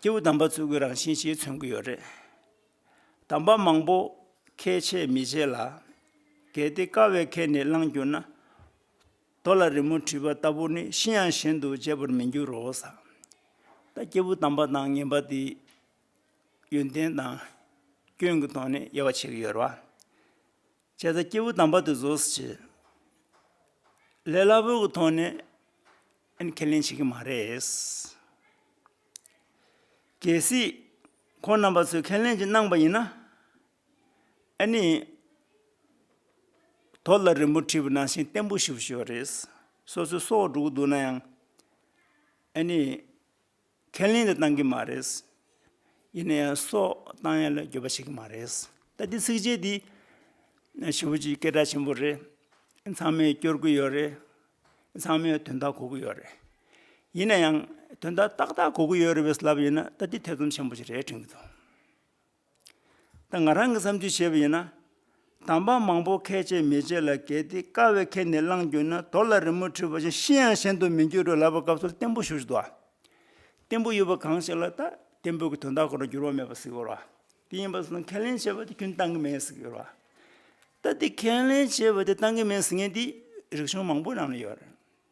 S2: སྐྱེས་བུ་དམ་པ་ཚུལ་དགུའི་རང་བཞིན་གྱིས་མཚོན་གྱི་ཡོད་རེད། དམ་པ་མང་པོ་ཁས་འཆེས་མི་བྱེད་ལ། གལ་ཏེ་དཀའ་བའི་ཁས་ནི་བླངས་གྱུར་ན། རྡོ་ལ་རི་མོ་བྲིས་པ་ལྟ་བུ་ནི་ཤི་ཡང་གཞན་དུ་བརྗེད་པར་མི་འགྱུར་རོ། ད་སྐྱེས་བུ་དམ་པ་དང་ངན་པ་དེའི་ཡོན་ཏན་དང་སྐྱོན་གྱི་ཐོག་ནས་དབྱེ་བ་ཕྱེ་གི་ཡོད་རེད། བྱས་ཙྪ་སྐྱེས་བུ་དམ་པ་དེ་བཟོད་སུ་བྱེད། ལས་སླ་པོའི་གུ་ཐོག་ནས་ཨེན་ཁས་ལེན་བྱེད་ཀྱི་མ་རེད། གལ་སྲིད་ཁོང་རྣམ་པ་ཚོས་ཁས་ལེན་ཅིག་གནང་པ་ཡིན་ན། ཨེ་ནི། དོ་ལ་རིན་པོ་ཁྲི་བུ་ནང་བཞིན་བརྟན་པོ་ཞུ་ཞོར་རེད། སོ་སོའི་སྲོག་འགྲོ་གི་འདུག་ན་ཡང། ཨེ་ནི། ཁས་ལེན་དེ་བཏང་གི་མ་རེད། ཡིན་ན་ཡང་སོགས་བཏང་ཡ་ལ་འགྱོད་པ་བྱེད་ཀྱི་མ་རེད། ད་འདི་ཚིགས་བཅད་འདི། ཞི་བ་ཅིག་སྐད་གྲགས་ཆེན་པོ་རེད། ཚང་མས་སྐྱོར་གི་ཡོད་རེད། ཚང་མས་དོན་དག་གོ་གི་ཡོད་རེད། ཡིན་ན་ཡང་དོན་དག་ཏག་ཏག་གོ་གི་ཡོད་རེད་པའི་ལབ་ཡོད་ན་ད་འདི་ཐེ་ཚོམ་ཆེན་པོ་ཞིག་རེད་དྲན་གྱི་འདུག། ད་ང་རང་གིས་བསམ་ཚུལ་བྱས་པ་ཡིན་ན། དམ་པ་མང་པོ་ཁས་འཆེས་མི་འཆེས་ལ་གལ་ཏེ་དཀའ་བའི་ཁས་ནི་བླངས་གྱུར་ན་དོར་ལ་རི་མོ་བྲིས་པ་བཞིན་ཤི་ཡང་གཞན་དུ་མི་འགྱུར་རོ་ལབ་པ་སྐབས་སུ་བརྟན་པོ་ཞུ་བཞིན་འདུག་ཨ། བརྟན་པོ་ཡོད་པ་གང་ཞིག་ལ་ད་བརྟན་པོའི་གྱི་དོན་དག་གོ་ན་འགྱུར་བ་མེད་པ་ཟིག་ཡོད་རོ། དེ་ཡིན་པ་སོགས་ཁས་ལེན་བྱས་པ་དེ་རྒྱུན་གཏང་གི་མེད་ཟིག་ཡོད་རོ། ད་དེ་ཁས་ལེན་བྱས་པ་དེ་གཏང་གི་མེད་ཟིག་ངེས་འདི་རིགས་གཞུང་མང་པོའི་ནང་ན་ཡོད་རེད།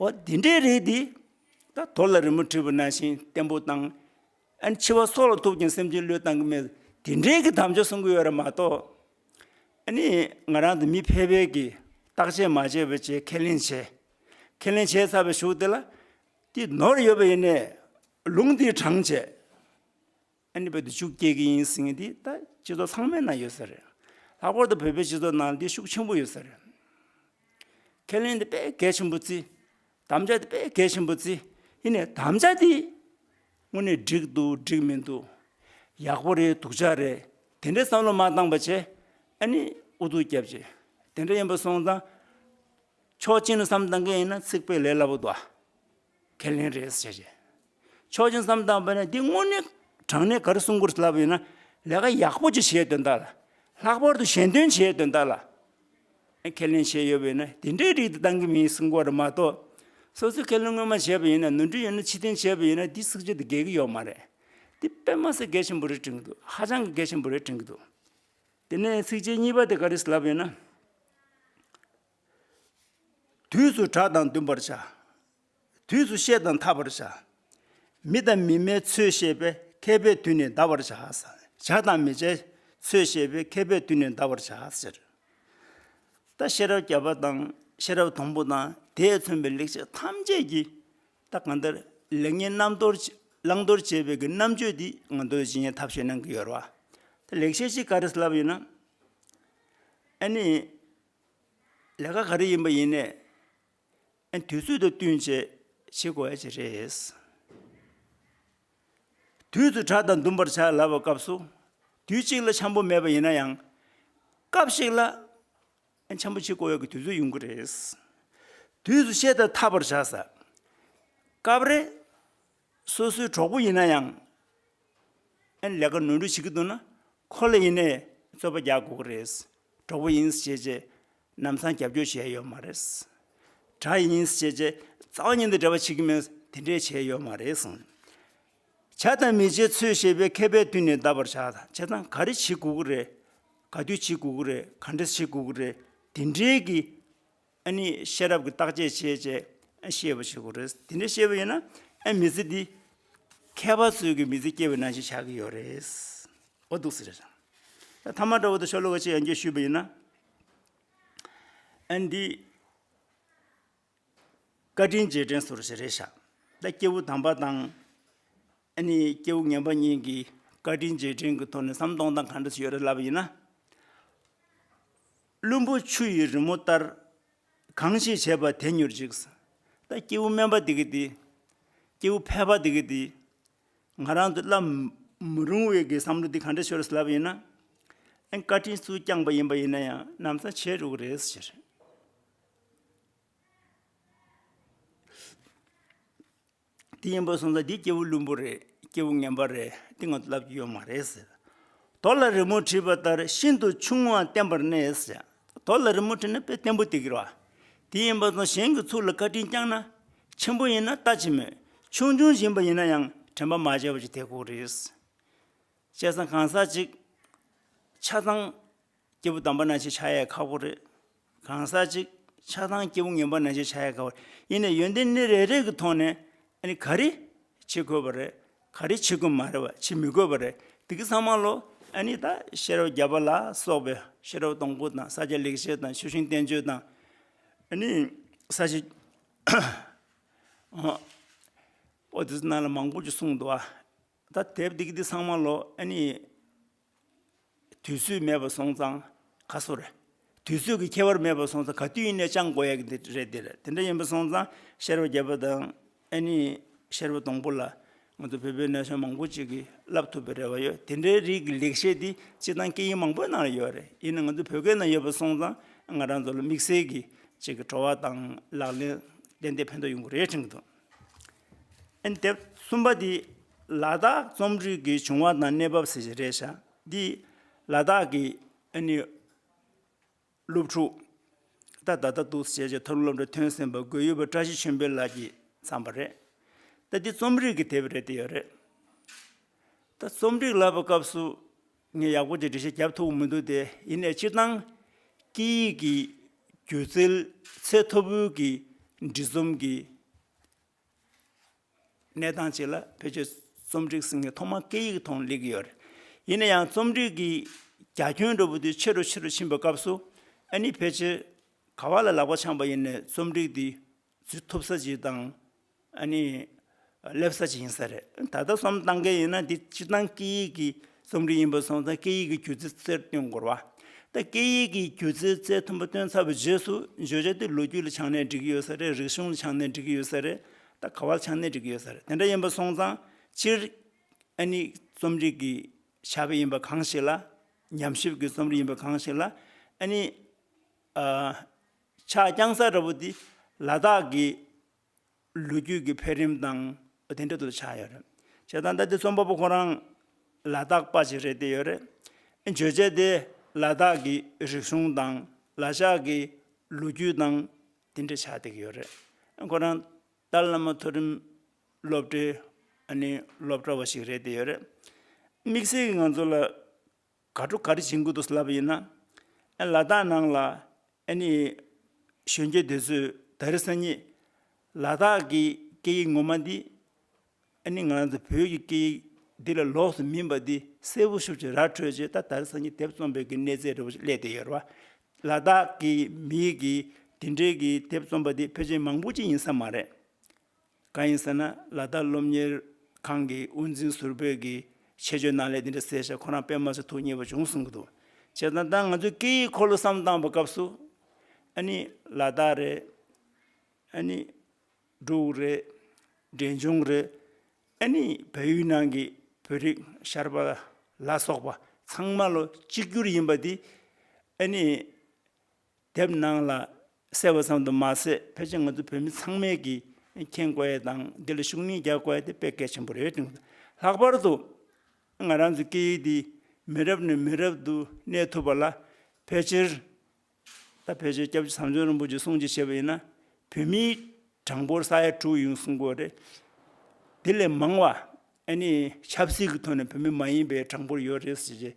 S2: ཨོ་དེ་འདྲའི་རེད་དེ། ད་དོར་ལ་རི་མོ་བྲིས་པ་ན་ཤིང་བརྟན་པོ་དང། ཨན་འཆི་བ་སོགས་ལ་ཐུག་ཀྱང་སེམས་ཅན་བློས་བཏང་གི་མེད། དེ་འདྲའི་གི་དམ་བཅའ་གསུང་གི་ཡོད་ར་མ་གཏོགས། ཨ་ནི་ང་རང་དང་མི་ཕལ་པའི་གི་བརྟག་དཔྱད་མ་བྱས་པ་བཅས་ཁས་ལེན་བྱས། ཁས་ལེན་བྱས་ཚར་བའི་གཞུག་དེ་ལ། དེ་ནོར་ཡོད་པ་ཡིན་ནས། ལུང་དེའི་གྲངས་བཅད། ཨ་ནི་བོད་དུ་ཕྱུགས་སྐྱེལ་གྱི་ཡིན་ཟེར་མཁན་དེ་ད་སྤྱི་ཚོགས་ཚང་མའི་ནང་ཡོད་ས་རེད། ལྷག་པར་དུ་བོད་པའི་སྤྱི་ཚོགས་ནང་དེ་ཤུགས་ཆེན་པོ་ཡོད་ས་རེད། ཁས་ལེན་དེ་དཔེ་གལ་ཆེན་པོ་བརྩི། དམ་བཅའ་དེ་དཔེ་གལ་ཆེན་པོ་བརྩི། ཡིན་ནས་དམ་བཅའ་དེ་དངོས་གནས་འགྲིག་འདུག་འགྲིག་མི་འདུག་ཡག་པོ་རེད་སྡུག་ཅག་རེད་དེ་འདྲའི་བསམ་བློ་མ་བཏང་པ་བྱས་ཨ་ནི་ཨུ་ཐུག་རྒྱབ་ཅིག་དེ་འདྲ་ཡིན་པ་སོང་ཙང། ཕྱོགས་གཅིག་ནས་བསམ་བཏང་མཁན་ཡིན་ན་ཚིག་དཔེ་ལས་སླ་པོ་འདུག་ཨ། ཁས་ལེན་རེད་བྱས་བྱས། ཆོག་མཆན་བསམ་བཏང་པ་ནས་འདི་དངོས་གནས་དྲང་གནས་ག་རེ་གསུང་དགོས་ལབ་ཡོད་ན། ལས་ཀ་ཡག་པོ་ཅིག་བྱས་དོན་དག་ལ། ལྷག་པར་དུ་གཞན་དོན་བྱས་དོན་དག་ལ། ཁས་ལེན་བྱས་ཡོད་པ་ཡིན་ན་དེ་འདྲའི་རིགས་དེ་གཏང་གི་མིན་གསུང་པ་རེད་མ་གཏོགས། སོ་སོས་ཁས་ལེན་སྔོན་མ་བྱས་པ་ཡིན་ན་ནོར་འཁྲུལ་ཡོད་ན་ཕྱི་དོན་བྱས་པ་ཡིན་ན་དེ་སུག་ཆ་དེ་འགེལ་གི་ཡོད་མ་རེད། དེ་དཔེ་མ་ཟད་འགེལ་ཆེན་པོ་རེ་དྲན་གི་འདུག་ཧ་ཅང་གི་འགེལ་ཆེན་པོ་རེ་དྲན་གི་འདུག། དེ་ནས་ཚིགས་བཅད་གཉིས་པ་དེ་ག་རེ་ལབ་ཡོད་ན། དུས་སུ་གྲགས་དང་འདུན་པར་བྱ། དུས་སུ་ཤེས་དང་ཐར་པར་བྱ། མི་དང་མི་སྨྲའི་ཚུལ་ཤེས་པས་མཁས་པའི་དུས་ནས་འདའ་བར་བྱ། བྱ་དང་མི་བྱའི་ཚུལ་ཤེས་པས་མཁས་པའི་དུས་ནས་འདའ་བར་བྱ། ཟེར། ད་ཤེས་རབ་བརྒྱ་པ་དང་ཤེས་རབ་དང་པོ་དང་དེས་མཚོན་པའི་ལེགས་བྱས་ཐམས་ཅད་ཀྱིས་ད་གང་ལྟར་ལེགས་ཉེས་རྣམ་རྟོར་བླང་དོར་བྱེད་པའི་གི་རྣམ་དཔྱོད་འདི་ང་རྡོ་རྗེ་འཆང་གི་ཐབས་ཤེས་གནང་གི་ཡོད་རེད་བ། ད་ལེགས་བྱས་ཅིག་ག་རེ་བསླབ་ཡོད་ན། ཨ་ནི། ལས་ཀ་ག་རེ་ཡིན་པ་ཡིན་ནས་དུས་ཚོད་དང་བསྟུན་བྱེད་བྱེད་དགོས་ཡ་ཅི་རེད། དུས་ཚོད་དྲག་དང་འདུམ་པར་བྱ་ལབ་པའི་སྐབས་སུ་དུས་གཅིག་ལ་འཆམ་པོ་མེད་པ་ཡིན་ན་ཡང། སྐབས་ཤིག་ལ་འཆམ་པོ་བྱེད་དགོས་ཡ་གི་དུས་ཚོད་ཡོང་གི་རེད། དུས་སུ་བཤད་དང་འཐབ་པར་བྱ་ས། སྐབས་རེ། སོ་སོའི་གྲོགས་པོ་ཡིན་ན་ཡང། ཨེ་ལས་ཀ་ནོར་འཁྲུལ་བྱེད་ཀྱི་འདུག་ན། ཁོ་ལ་ཡིན་ནས་རྩོད་པ་རྒྱག་དགོས་ཀྱི་རེད། གྲོགས་པོ་ཡིན་ཞེས་ཅེས་ནམ་སང་རྒྱབ་སྐྱོར་བྱས་ཡོད་མ་རེད། དགྲ་ཡིན་ཞེས་ཅེས་རྩ་བ་ཉིད་དུ་འབྲེལ་བ་བྱེད་ཀྱི་མེད་དེ་འདྲས་བྱས་ཡོད་མ་རེད། བྱ་དང་མི་བྱེད་ཚུལ་ཤེས་པའི་མཁས་པས་བསྟུན་ནས་བལྟ་བར་བྱ། བྱས་ཙང་ག་རེ་བྱེད་དགོས་ཀྱི་རེད། ག་དུས་བྱེད་དགོས་ཀྱི་རེད་ག་འདྲས་བྱེད་དགོས་ཀྱི་རེད་དེ་འདྲས་ཀྱི། ཨ་ནི་ཤེས་རབ་ཀྱི་རྟགས་ཆད་བྱེད་ཅེས་ཤེས་པར་བྱེད་དགོས་རེད། དེ་འདྲ་ཤེས་པ་ཡིན་ན་མི་ཚེ་འདི་མཁས་པ་ཚོས་ཀྱི་མི་ཚེ་སྐྱེལ་བའི་ནང་བཞིན་ཆགས་ཀྱི་ཡོད་རེད། འོ་འདུག་ཟེར། ཐ་མ་འདྲ་བོ་དང་ཤོ་ལོ་ཀ་ཅིག་ཡང་བརྒྱུད་ཞུས་པ་ཡིན་ན། ཨ་འདི། བཀའ་དྲིན་རྗེས་དྲན་ཟུར་ཞིག་རེད་ཤག་ད་སྐྱེ་བོ་དམ་པ་དང། ཨ་ནི་སྐྱེ་བོ་ངན་པ་གཉིས་ཀྱིས་བཀའ་དྲིན་རྗེས་དྲན་གྱི་ཐོག་ནས་ཟམ་གདོང་དང་གང་འདྲ་ཞིག་ཡོད་རེད་ལབ་པ་ཡིན་ན། བླུན་པོ་ཆུ་ཡི་རི་མོ་ལྟར། གང་ཞིག་བྱས་པ་དེ་མྱུར་འཇིག། ད་སྐྱེས་བུ་དམན་པ་འདི་གི་འདི། སྐྱེས་བུ་ཕལ་པ་འདི་གི་འདི། ང་རང་དུ་བསླབ་མི་རུང་བའི་གི་བསམ་བློ་འདི་ག་འདྲའི་ཆོས་རེད་ལབ་ཡིན་ན། ཨེ་བཀའ་དྲིན་སུས་བསྐྱངས་པ་ཡིན་པ་ཡིན་ན་ཡང་གནམ་ས་ཆེ་རུག་རེད་ཟེར། དེ་ཡིན་པར་སོང་ཙང་དེ་སྐྱེ་བོ་བླུན་པོ་རེད་སྐྱེ་བོ་ངན་པ་རེད་དེ་ང་ཚོ་ལབ་ཀྱི་ཡོད་མ་རེད་ཟེར། དོ་ལ་རི་མོ་བྲིས་པ་ལྟར་ཤིན་ཏུ་ཆུང་ངུའང་བསྟན་པར་གནས་ཟེར། དོ་ལ་རི་མོ་བྲིས་ན་དཔེ་བརྟན་པོ་དེ་ཀྱི་རེད། དེ་ཡིན་པར་སོང་གཞན་གྱི་ཚུགས་ལ་བཀའ་དྲིན་བསྐྱངས་ན། ཆེན་པོ་ཡིན་ན་ལྟ་ཅི་སྨོས་ཆུང་ཆུང་བཞིན་པ་ཡིན་ན་ཡང་དྲན་པ་མ་བྱས་པ་ཅི་ཐེག་གོ་རེད། བྱས་ཙང་གང་ཟག་ཅིག་ཆ་ཚང། སྐྱེས་བུ་དམ་པ་ན་ཅིག་ཆ་ཡའི་ཁ་སྒོ་རེད། གང་ཟག་ཅིག་ཆགས་སྡང་སྐྱེས་བུ་ངན་པ་ན་ཅིག་ཆ་ཡའི་ཁ་སྒོ་ཡིན་ནས་ཡོན་ཏན་ནི་རེ་རེ་གི་ཐོག་ནས་ནི་ག་རེ་བྱེད་དགོས་པ་རེད་ག་རེ་བྱེད་དགོས་མ་རེད་བ་བྱེད་མི་དགོས་པ་རེད་འདི་གི་ཚང་མ་ལོ་ཨ་ནི་ད་ཤེས་རབ་བརྒྱ་པ་ལ་སོགས་པའི་ཤེས་རབ་སྟོང་སྐུ་དང་ས་སྐྱ་ལེགས་བཤད་དང་ཆོས་དབྱིངས་བསྟན་བཅོས་དང་ཨ་ནི་ས་བྱི་ཨོ་དེ་ཚོ་རྣམས་ལ་མང་པོ་ཅིག་གསུངས་འདུག་ཨ། ད་དེབ་འདི་གི་འདི་ཚང་མ་ལོ་ཨ་ནི། དུས་ཚོད་མེད་པར་སོང་ཙང་ཁ་སོ་རེད། དུས་ཚོད་ཀྱི་ཁྱད་པར་མེད་པར་སོང་ཙང་ག་དུས་ཡིན་ནའི་ཅང་གོ་ཡ་གི་འདི་རེད་འདི་རེད་དེ་འདྲ་ཡིན་པར་སོང་ཙང་ཤེར་བ་བརྒྱད་པོ་དང་ཨེ་ནི་ཤེར་བ་སྡོང་པོ་ལ་ང་ཚོ་བོད་པའི་ན་གཞོན་མང་པོ་ཅིག་གིས་བསླབ་ཐུབ་པའི་རེ་བ་ཡོད་དེ་འདྲའི་རིགས་ཀྱི་ལེགས་བཤད་འདི་སྤྱིར་བཏང་སྐད་ཡིག་མང་པོའི་ནང་ལ་ཡོད་རེད་ཡིན་ནའང་ང་ཚོ་བོད་སྐད་ནང་ཡོད་པར་སོང་ཙང་ང་རང་ཚོ་ལ་དམིགས་བསལ་གྱི་ཅིག་གི་བྲོ་བ་དང་ལག་ལེན་ཏན་ཏན་ཕན་ཐོགས་ཡོང་གི་རེད་དྲན་གྱི་འདུག། དེབ་གསུམ་པ་འདི་ལ་དྭགས་རྩོམ་རིག་གི་བྱུང་བ་དང་གནས་བབ་ཟེར་གྱི་རེད། འདི་ལ་དྭགས་ཀྱི་སློབ་ཕྲུག་ད་ལྟ་ད་དུག་ཟེར་བྱས་ཀྱི་ཐོར་སློབ་གྲྭ་ཐོན་ཟིན་པ་དགོས་ཡོད་པ་བཀྲ་ཤིས་ཆོས་འཕེལ་ལགས་ཀྱིས་བརྩམས་པ་རེད། ད་འདི་རྩོམ་རིག་གི་དེབ་རེད་དེ་ཡོད་རེད། ད་རྩོམ་རིག་ལབ་པའི་སྐབས་སུ། ངས་ཡག་པོ་དེ་འབྲི་བྱེད་བརྒྱབ་ཐུབ་མི་འདུག་དེ་ཡིན་ནས་སྤྱིར་བཏང། སྐད་ཡིག་གི་སྒྱུ་རྩལ་ཚད་མཐོ་པོའི་གི་འབྲི་རྩོམ་གི་གནས་སྟངས་ཅིག་ལ་བོད་ཀྱི་རྩོམ་སྒྲིག་ཟིན་ངེས་ཐོག་མ་སྐད་ཡིག་ཐོག་ལེགས་ཀྱི་ཡོད་རེད། ཡིན་ན་ཡང་རྩོམ་སྒྲིག་གི་རྒྱ་ཁྱོན་འགྲོ་བོ་དུས་ཆེ་རུ་ཆེ་རུ་ཕྱིན་པའི་སྐབས་སུ། ཨ་ནི་ཕལ་ཆེར་ག་བ་ལ་ལག་པ་འཆང་བ་ཡིན་ནས་རྩོམ་སྒྲིག་དེ་ཚུལ་ཐོབ་ས་ཅིག་དང། ཨ་ནི། སླེབས་ས་ཅིག་ཡིན་ས་རེད། ད་ལྟ་སོམ་བཏང་མཁན་ཡིན་ན་དེ་སྤྱིར་བཏང་སྐད་ཡིག་གི་རྩོམ་རིག་ཡིན་པ་སོང་ཙང་སྐད་ཡིག་གི་སྒྱུ་རྩལ་རྩལ་བཏོན་དགོར་བ། ད་སྐད་ཡིག་གི་སྒྱུ་རྩལ་རྩལ་མཐོན་པོ་བཏོན་ཚར་བའི་རྗེས་སུ་བརྗོད་བྱ་དེ་ལོ་རྒྱུས་ལ་ཆགས་ནས་འགྲིག་གི་ཡོད་ས་རེད་རིག་གཞུང་ལ་ཆགས་ནས་འགྲིག་གི་ཡོད་ས་རེད། ད་ག་བ་ལ་ཆགས་ནས་འགྲིག་གི་ཡོད་ས་རེད་དེ་འདྲ་ཡིན་པ་སོང་ཙང་སྤྱིར། ཨ་ནི། རྩོམ་རིག་གི་ཆ་བེད་ཡིན་པ་གང་ཞིག་ལ། ཉམས་ཞིབ་ཀྱི་རྩོམ་རིག་ཡིན་པ་གང་ཞིག་ལ། ཨ་ནི། ཕྱག་རྐྱང་ས་ར་བོ་འདི་ལ་དྭགས་ཀྱི་ལོ་རྒྱུས་ཀྱི་འཕེལ་རིམ་དང་དེ་འབྲེལ་དུ་ཆགས་ཡོད་རེད། བྱས་ཙང་ད་ལྟའི་རྩོམ་པ་པོ་ཁོ་རང་ལ་དྭགས་པ་ཞིག་རེད་བསྡད་ཡོད་རེད། བརྗོད་བྱ་དེ་ལ་དྭགས་ཀྱི་རིག་གཞུང་དང་ལ་ཤག་གི་ལོ་རྒྱུས་དང་དེ་འབྲེལ་ཆགས་བསྡད་ཀྱི་ཡོད་རེད། ཁོ་རང་ཏཱ་ལ་བླ་མ་མཐོ་རིམ་སློབ་གྲྭའི་སློབ་གྲྭ་བ་ཞིག་རེད་བསྡད་ཡོད་རེད། དམིགས་བསལ་གྱི་ང་ཚོ་ལ། དགའ་སྤྲོ་ག་རེ་བྱེད་འགོ་འདུག་ལབ་པ་ཡིན་ན། ཨ་ལ་དྭགས་ནང་ལ་ཨ་ནི། གཞོན་སྐྱེས་དེ་ཚོས་ད་རེས་སང་ཉིད། ལ་དྭགས་ཀྱི་སྐད་ཡིག་ངོ་མ་འདི། ཨ་ནི་ང་ཚོ་བོད་ཀྱི་སྐད་ཡིག་འདི་ལ་ལོགས་སུ་མིན་པ་འདི་གསལ་བོ་ཤོག་ཅེས་ར་འཕྲོད་རྗེས་ད་ད་རེས་སང་ཉིད་དེབ་རྩོམ་པའི་གི་གནས་ཚད་རེ་བོ་ཞིག་གླས་ཏེ་ཡོད། ལ་དྭགས་ཀྱི་མིའི་གི་དེ་འདྲའི་གི་དེབ་རྩོམ་པ་འདི་ཕལ་ཆེར་མང་པོ་ཅི་ཡིན་ས་མ་རེད། གང་ཡིན་ཟེར་ན་ལ་དྭགས་སློབ་གཉེར་ཁང་གི་དབུ་འཛིན་ཟུར་བོད་ཀྱི་ཆེད་སྤྱོད་གནང་སླད་འདི་འདྲ་ཟེར་བཞག་ཁོ་རང་དཔེ་མ་ཚུགས་ཐུགས་མཉེས་པ་བྱུང་གསུང་གི་འདུག་བྱས་ཙང་ད་ང་ཚོའི་སྐད་ཡིག་འཁོར་ལོ་བསམ་བཏང་བ་སྐབས་སུ། ཨ་ནི་ལ་དྭགས་རེད། ཨ་ནི་འབྲུག་རེད། འབྲས་ལྗོངས་རེད། ཨ་ནི་བལ་ཡུལ་ནང་གི་བོད་རིགས་ཤར་པ་ལ་སོགས་པ་ཚང་མ་ལོ་གཅིག་གྱུར་ཡིན་པ་འདི་ཨ་ནི་དེབ་ནང་ལ་གསལ་བ་ཙམ་དུ་མ་ཟད་ཕལ་ཆེར་ང་ཚོ་བོད་མི་ཚང་མས་ཀྱིས་མཁྱེན་དགོས་ཡས་དང་འདི་ལ་ཤུགས་སྣོན་རྒྱག་དགོས་ཡས་དེ་དཔེ་གལ་ཆེན་པོ་རེད་བསྟུན་དགོས། ལྷག་པར་དུ། ང་རང་ཚོའི་སྐད་ཡིག་འདི་མི་རབས་ནས་མི་རབས་དུ་གནས་ཐུབ་པ་ལ་ཕལ་ཆེར། ད་ཕལ་ཆེར་སྐྱབས་རྗེ་ཚངས་སྤྱོད་རིན་པོ་ཆེ་གསུང་བྱས་བྱས་པ་ཡིན་ན། བོད་མིའི་གྲངས་འབོར་ས་ཡ་དྲུག་ཡིན་གསུང་དགོས་རེད། དེ་ལས་མང་བ། ཨ་ནི་ཆབ་སྲིད་ཀྱི་ཐོག་ནས་བོད་མི་མ་ཡིན་པའི་གྲངས་འབོར་ཡོད་རེད་ཟེར་བྱས།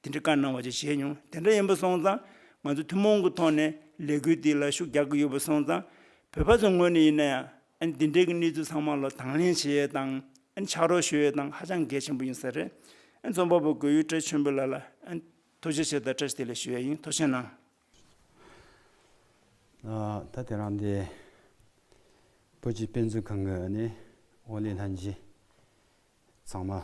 S2: དེ་འདྲའི་བཀའ་གནང་བ་བཅས་བྱས་མྱོང། དེ་འདྲ་ཡིན་པ་སོང་ཙང་ང་ཚོ་ཐུན་མོང་གི་ཐོག་ནས་ལས་འགུལ་འདི་ལ་ཤུགས་རྒྱག་གི་ཡོད་པ་སོང་ཙང། བོད་པ་ཚོའི་ངོས་ནས་ཡིན་ན་ཡང་ཨ་ནི་འདི་འདྲའི་གི་གནས་ཚུལ་ཚང་མ་ལ་དང་ལེན་བྱེད་ཡས་དང་ཨ་ནི་ཕྱག་རོགས་ཞུ་ཡས་དང་ཧ་ཅང་གལ་ཆེན་པོ་ཡིན་ས་རེད། ཨ་ནི་རྩོམ་པ་པོ་གོས་ཡུལ་བཀྲ་ཆོན་པོ་ལགས་ལ་ཨ་ནི་ཐུགས་རྗེ་ཆེ་དང་བཀྲ་ཤིས་བདེ་ལེགས་ཞུ་ཡས་ཡིན་ཐུགས་ཆེ་གནང། ད་དེ་རང་དེ་བོད་ཀྱི་དཔེ་མཛོད་ཁང་གི་ཨ་ནི་ཨོ་ལེ་ལྷན་རྒྱས་ཚང་མ།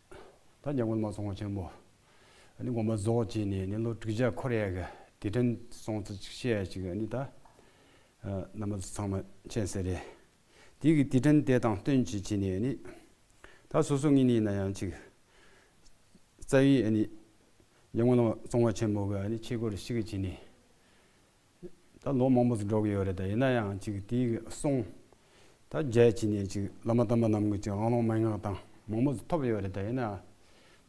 S3: ད་རྒྱ་མགོན་མ་ཚོང་ཆེན་པོ་ནི་དགོན་པ་རྫོགས་བྱས་ནས་ནི་ལོ་དྲུག་བརྒྱ་འཁོར་ཡས་ཀྱི་དེ་དྲན་སོང་ཚུལ་ཅིག་བཤད་ཅིག་ནི་ད་ནམ་མ་ཚང་མ་མཁྱེན་གསལ་རེད། དེ་གི་དེ་དྲན་དེ་དང་བསྟུན་ཅིག་བྱས་ནས་ནི་ད་སོ་སོ་ངེས་ནི་ན་ཡང་ཅིག་རྩ་བའི་ནི་རྒྱ་མགོན་ཚོང་པ་ཆེན་པོ་གི་ཆས་གོས་རེ་ཤིག་བྱས་ནས་ད་ལོ་མང་པོ་ཟིག་འགྲོ་གི་ཡོད་རེད་ད་ཡིན་ན་ཡང་ཅིག་དེ་གི་སོང། ད་རྒྱལ་ཅིག་ནས་ཅིག་བླ་མ་དམ་པ་རྣམས་གི་ཅིག་དབང་ལུང་མན་ངག་དང་མང་པོ་ཟིག་ཐོབ་ཡོད་རེད་ད་ཡིན་ན།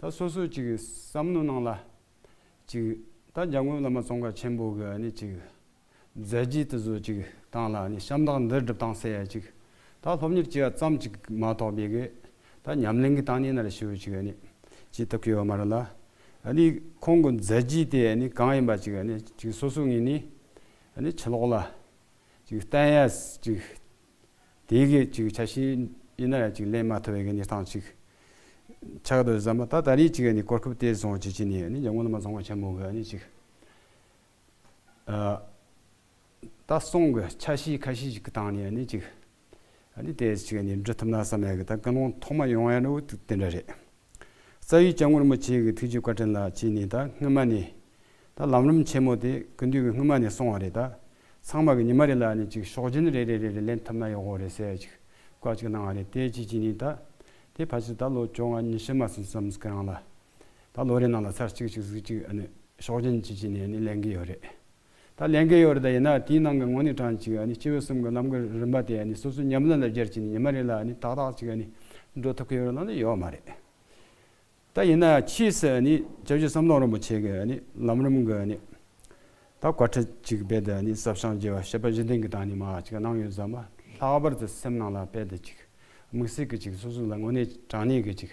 S3: ད་སོ་སོས་ཅིག་བསམ་བློ་གནང་ལ། ཅིག་ད་རྒྱ་དངུལ་བླ་མ་ཙོང་ཁ་ཆེན་པོ་གི་ནི་ཅིག་མཛད་རྗེས་དེ་ཚོ་ཅིག་བཏང་ལ་ནི་ཤམ་ཐག་འདིར་སྒྲུབ་སྟངས་གསལ་ཅིག་ད་སློབ་གཉེར་བྱས་ཙམ་ཅིག་མ་ཐོག་པའི་གི་ད་ཉམས་ལེན་གི་སྟངས་ནི་ནར་ཞུ་ཅིག་ནི་བྱེད་ཐུབ་ཀྱི་ཡོད་མ་རེད་ལ། ནི། ཁོང་གི་མཛད་རྗེས་དེ་ནི་གང་ཡིན་པ་ཅིག་ནི་ཅིག་སོ་སོ་ངེས་ནི། ནི་ཕྱི་ལོགས་ལ། ཅིག་བསྟན་ཡ། ཅིག། དེ་གི་ཅིག་ཆ་ཤས་ཡིན་ན་ཡ་ཅིག་ལན་མ་ཐོ་བའི་གནས་སྟངས་ཅིག། ཆགས་འདུག་བསམ་པ་ད་ད་རིས་ཅིག་ནི་གོ་སྐབས་དེ་བཟང་བྱེད་ཀྱི་ནི་ནི་ཡ་ངོ་ན་མ་བཟང་བ་ཆེན་མོ་གི་ནི་ཅིག། ད་སོང་གི་ཆ་ཤས་ཁ་ཤས་ཤིག་གི་སྟངས་ནས་ནི་ཅིག་ནི་དེ་ཅིག་ནི་འབྲི་ཐུབ་ན་བསམ་ཡས་གི་ད་དཀའ་སློང་ཐོག་མ་ཡོང་ཡས་ནོ་དེ་འདྲ་རེད། རྩ་བའི་སྐྱབས་ངོར་མོ་ཆེ་གི་ཐུགས་རྗེ་བཀའ་དྲིན་ལ་ཅིག་ནི་ད་སྔོན་མ་ནི་ད་ལམ་རིམ་ཆེན་མོ་དེ་གི་མདུན་གི་སྔོན་མ་ནས་སོང་བ་རེད་ད་ཚང་མ་གི་ཉི་མ་རེ་ལ་ནི་ཅིག་ཤོག་སྦྱིན་རེ་རེ་རེ་རེ་ལེན་ཐུབ་ན་ཡོག་གོ་རེད་ཟེར་ཅིག་བཀའ་ཅིག་གནང་བ་རེད་དེ་ཅིག་ཅིག་ནི་ད་དེ་ཕ་ཆེ་ད་ལོ་བཅོ་ལྔ་ཉི་ཤུ་མ་སོན་བསམ་གི་རང་ལ་ད་ལོ་རེའི་ནང་ལ་ཚར་གཅིག་གཅིག་གཟིགས་གཅིག་ཨ་ནི་ཤོག་སྦྱིན་གཅིག་གཅིག་ནས་ནི་ལེན་གི་ཡོད་རེད། ད་ལེན་གི་ཡོད་རེད་ད་ཡིན་ན་དེའི་ནང་གི་དངོས་གནས་གྲངས་གཅིག་ཨ་ནི་སྤྱི་བོའི་གསུམ་གི་ལམ་གི་རིམ་པ་དེ་ཨ་ནི་སོ་སོའི་ཉམས་ལེན་ལ་སྦྱར་གྱི་ནི་ཉི་མ་རེ་ལ་ཨ་ནི་ཏག་ཏག་གཅིག་ཨ་ནི་འགྲོ་ཐུབ་གི་ཡོད་རེད་ལབ་ན་ཡོད་མ་རེད། ད་ཡིན་ན་ཕྱིས་སུ་ཨ་ནི་རྒྱལ་སྤྱིའི་བསམ་བློ་རིན་པོ་ཆེ་གི་ཨ་ནི་ལམ་རིམ་གི་ཨ་ནི་ད་བཀའ་ཁྲི་གཅིག་རྦད་དེ་ཨ་ནི་ཟབ་ཤང་རྒྱལ་བ་ཤེས་པ་བཞི་ལྡན་གི་ད་ནི་མ་གཅིག་གནང་ཡོད་ཟབ་མ་ལྷག་པར་དུ་སེམས་ནང་ལ་རྦད་དེ་གཅིག་དམིགས་བསལ་གི་གཅིག་སོ་སོ་ལ་དངོས་གནས་དྲང་གནས་གི་གཅིག་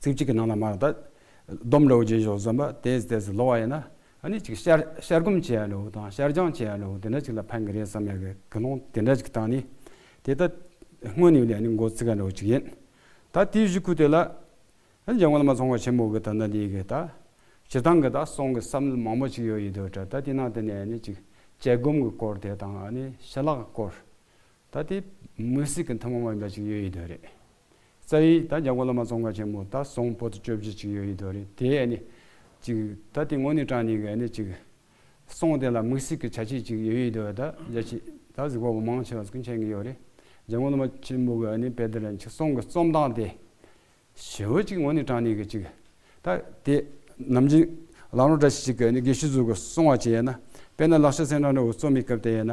S3: ཚིག་གཅིག་གི་ནང་ལ་མར་དང། སྡོམ་ལོག་རྗེས་ཕྱོགས་གསུམ་པ་དེ་ཟད་ཟད་ལོག་བ་ཡིན་ན། ཨ་ནི་ཅིག་ཤར་ཤར་སྒོམ་བྱེད་ཡ་ལོག་དང་ཤར་སྦྱང་བྱེད་ཡ་ལོག་དེ་འདྲ་ཅིག་ལ་ཕན་གི་རེད་བསམ་ཡ་གི་དགེ་སློང་དེ་འདྲ་ཅིག་དང་ནི། དེ་ལྟ། སྔོན་ནི་ལས་ནི་མགོ་ཚིག་ག་ལོག་ཅིག་ཡིན། ད་དེའི་གཞི་ཁུ་དེ་ལ། ཨ་ནི་ཇག་མ་ལ་མ་ཚོང་བ་ཆེན་མོ་གི་ད་ནི་དེའི་གི་ད། བྱེད་སྟངས་གི་ད་སོང་གི་བསམ་བློ་མང་པོ་ཅིག་ཡོད་ཡི་དོ་ཏྲ་ད་དེ་ནང་དེ་ནས་ཨ་ནི་ཅིག་དཔྱད་སྒོམ་གི་སྐོར་དེ་དང་ཨ་ནི་ཞལ་ལག་གི་སྐོར། ད་དེ། མུན་སྲིད་གི་མཐུན་མོང་བ་འདྲ་ཅིག་ཡོད་ཡི་དོ་རེད། རྩ་ཡིག་ད་རྒྱ་གོ་ལ་མ་ཙོང་ཁ་ཆེན་མོ་ད་སོང་པོ་ཏི་བཅོ་བརྒྱད་ཅིག་ཡོད་ཡིན་དོ་རེད་དེ་ཨེ་ནི། ཅིག་ད་དེ་ངོ་ནི་ཀྲང་ནི་གི་ཨེ་ནི་ཅིག། སོང་དེ་ལ་དམིགས་སིག་གི་བྱ་ཆིག་ཅིག་ཡོད་ཡིན་དོ་ད་རྒྱ་ཆིག་ད་གཟིག་པ་པོ་མང་ཆེ་བ་སྐུ་མཆན་གི་ཡོད་རེད། རྒྱ་གོ་ལ་མ་ཆེན་མོ་གི་ཨེ་ནི་པེ་དེ་ལ་ཅིག་སོང་གི་རྩོམ་སྟངས་དེ། ཞེ་བོ་ཅིག་ངོ་ནི་ཀྲང་ནི་གི་ཅིག། ད་དེ། ནམ་རྒྱུན། ལག་ནོར་འདྲ་ཞིག་ཅིག་གི་ཨེ་ནི་དགེ་བཤེས་ཟུར་གི་སོང་བ་ཅིག་ཡེ་ན། དཔེར་ན་ལག་ཤ་སེང་ཀྲང་རི་བོ་རྩོམ་མི་སྐབས་དེ་ཡེ་ན།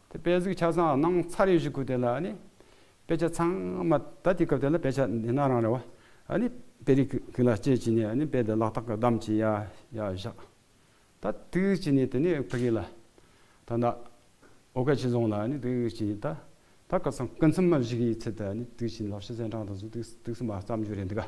S3: དེ་དཔེ་གཟིགས་ཆ་ཚང་གནང་ཚར་ཡོད་ཞིག་གུ་དེ་ལ་ནི། དཔེ་ཆ་ཚང་མ་ད་དེ་སྐབས་དེ་ལ་དཔེ་ཆ་འདི་ན་རང་རེ་བ་ནི་དཔེ་རིགས་ཀུན་ལ་དཔྱད་ཅིག་ནས་ནི་དཔེ་དེ་ལག་ཐག་གི་བསྡམས་ཅིག་ཡ་ཡ་བཞག་ད་དུས་ཅིག་ནས་དེ་ནི་ཕ་གི་ལ་ད་ནི་ཨོ་ཀ་ཆི་རྫོང་ལ་ནི་དུས་ཅིག་ནས་ད་ད་སྐབས་སམ་སྐུ་མཚམས་མ་བཞི་གི་ཚེ་ད་ནི་དུས་ཅིག་ནས་ལག་ཤེས་ཚན་གྲངས་དང་གཟུགས་ཐིགས་སུ་མ་བརྩམས་རྒྱུ་རེད་འདུག་ག།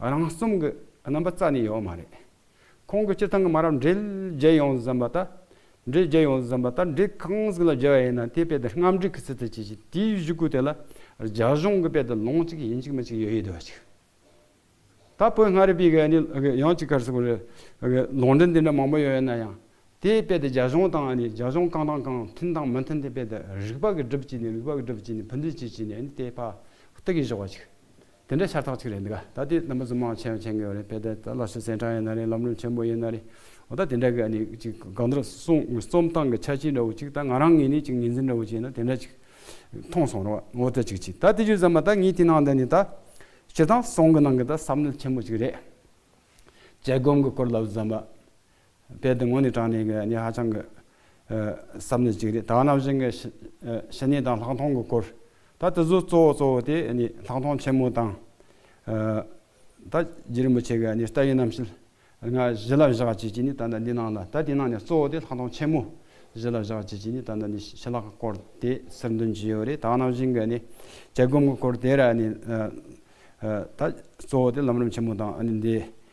S3: རང་རྩོམ་གྱི་རྣམ་པ་རྩ་ནས་ཡོད་མ་རེད། ཁོང་གིས་སྤྱི་ཚང་གི་མ་རབས་འབྲེལ་རྒྱལ་ཡོངས་སུ་བརྫངས་པ་ལྟར། འབྲེལ་རྒྱལ་ཡོངས་སུ་བརྫངས་པ་ལྟར་འབྲེལ་གང་ཟིག་ལ་རྒྱལ་བ་ཡིན་ན་དེའི་དཔེ་དེར་རྔམ་འབྲིང་གི་ཚུལ་དུ་བྱེད་ཅིང་དེའི་གཞུག་གུ་དེ་ལ་རྒྱ་གཞུང་གི་དཔེ་དེར་ལོང་གཅིག་ཡིན་གཅིག་མིན་གཅིག་ཡོད་ཡོད་དུ་བ་ཅིག། ད་བོད་མངའ་རིས་པའི་ག་ནི་ཡང་གཅིག་གར་སོང་བ་རེད། ལོང་འབྲིང་དེ་འདྲ་མང་པོ་ཡོད་ཡོད་ན་ཡང། དེའི་དཔེ་དེ་རྒྱ་གཞུང་དང་ཨ་ནི་རྒྱ་གཞུང་གང་དང་གང་མཐུན་དང་མི་མཐུན་དེའི་དཔེ་དེ་རིག་པ་གི་སྒྲིབ་བྱས་ནས་རིག་པ་གི་སྒྲིབ་བྱས་ནས་ཕུ་འདུན་བྱས་བྱས་ནས་ནི་དེ་ཕ་བཏུ་གིན་ཞོག་བ་ཅིག། དེ་འདྲའི་ཤར་ཐག་ཅིག་རེད་འདུག་ག་ད་དེ་རྣམ་པ་རྫུན་མ་ཆེ་བ་ཆེ་གི་རེད་དཔེ་དེབ་དེ་ལ་ཤུ་ཟན་ཀྲང་ཡིན་ན་རེད་ལམ་ལུགས་ཆེན་པོ་ཡིན་ན་རེད་འོ་ད་དེ་འདྲ་གི་ཨ་ནི་ཅིག་གང་ལྟར་སོང་རྩོམ་སྟངས་ཀྱི་ཆ་ཅིག་འདྲ་བོ་ཅིག་ད་ང་རང་ངེད་གཉིས་ཅིག་ངེས་འཛིན་འདྲ་བོ་ཅིག་ཡིན་ན་དེ་འདྲ་ཅིག་མཐོང་སོང་རོགས་འོ་ད་ཅིག་ཅིག་ད་དེ་བརྗོད་ཙམ་མ་ད་ངས་དེ་ནང་དེ་ནི་ད་བྱེད་སྟངས་སོང་གི་ནང་གི་ད་བསམ་བློ་ཆེན་པོ་ཅིག་རེད་བྱེད་སྒོམ་གི་སྐོར་ལབ་ཙམ་མ་དཔེ་དེ་ངོ་ནས་དྲངས་ནས་ངས་ཧ་ཅང་གི་བསམ་ནི་གཅིག་རེད་ད་ནམ་བཞིན་གྱི་བཤེས་གཉེན་དང་ལྷག་མཐོང་གི་སྐོར་ད་དེ་ཚོའི་གཙོ་བོ་གཙོ་བོ་དེ་ལྷག་མཐོང་ཆེན་མོ་དང། ད་རྗེ་རིན་པོ་ཆེ་གི་བཀྲ་ཡིག་རྣམས་ཤེལ་སྔགས་གཞི་ལ་བཞག་བྱེད་ཀྱི་ནི་ད་ནི་འདི་ནང་ལ་ད་དེ་ནང་ནས་གཙོ་བོ་དེ་ལྷག་མཐོང་ཆེན་མོ་གཞི་ལ་བཞག་བྱེད་ཀྱི་ནི་ད་ནི་ཤེལ་ལྷག་གི་སྐོར་དེ་གསེར་འདོན་གྱི་ཡོད་རེད་ད་ནམ་བཞིན་གྱི་ནི་བྱད་སྒོམ་གྱི་སྐོར་དེར་ནི་ད་གཙོ་བོ་དེ་ལམ་རིམ་ཆེན་མོ་དང་ནི་འདི་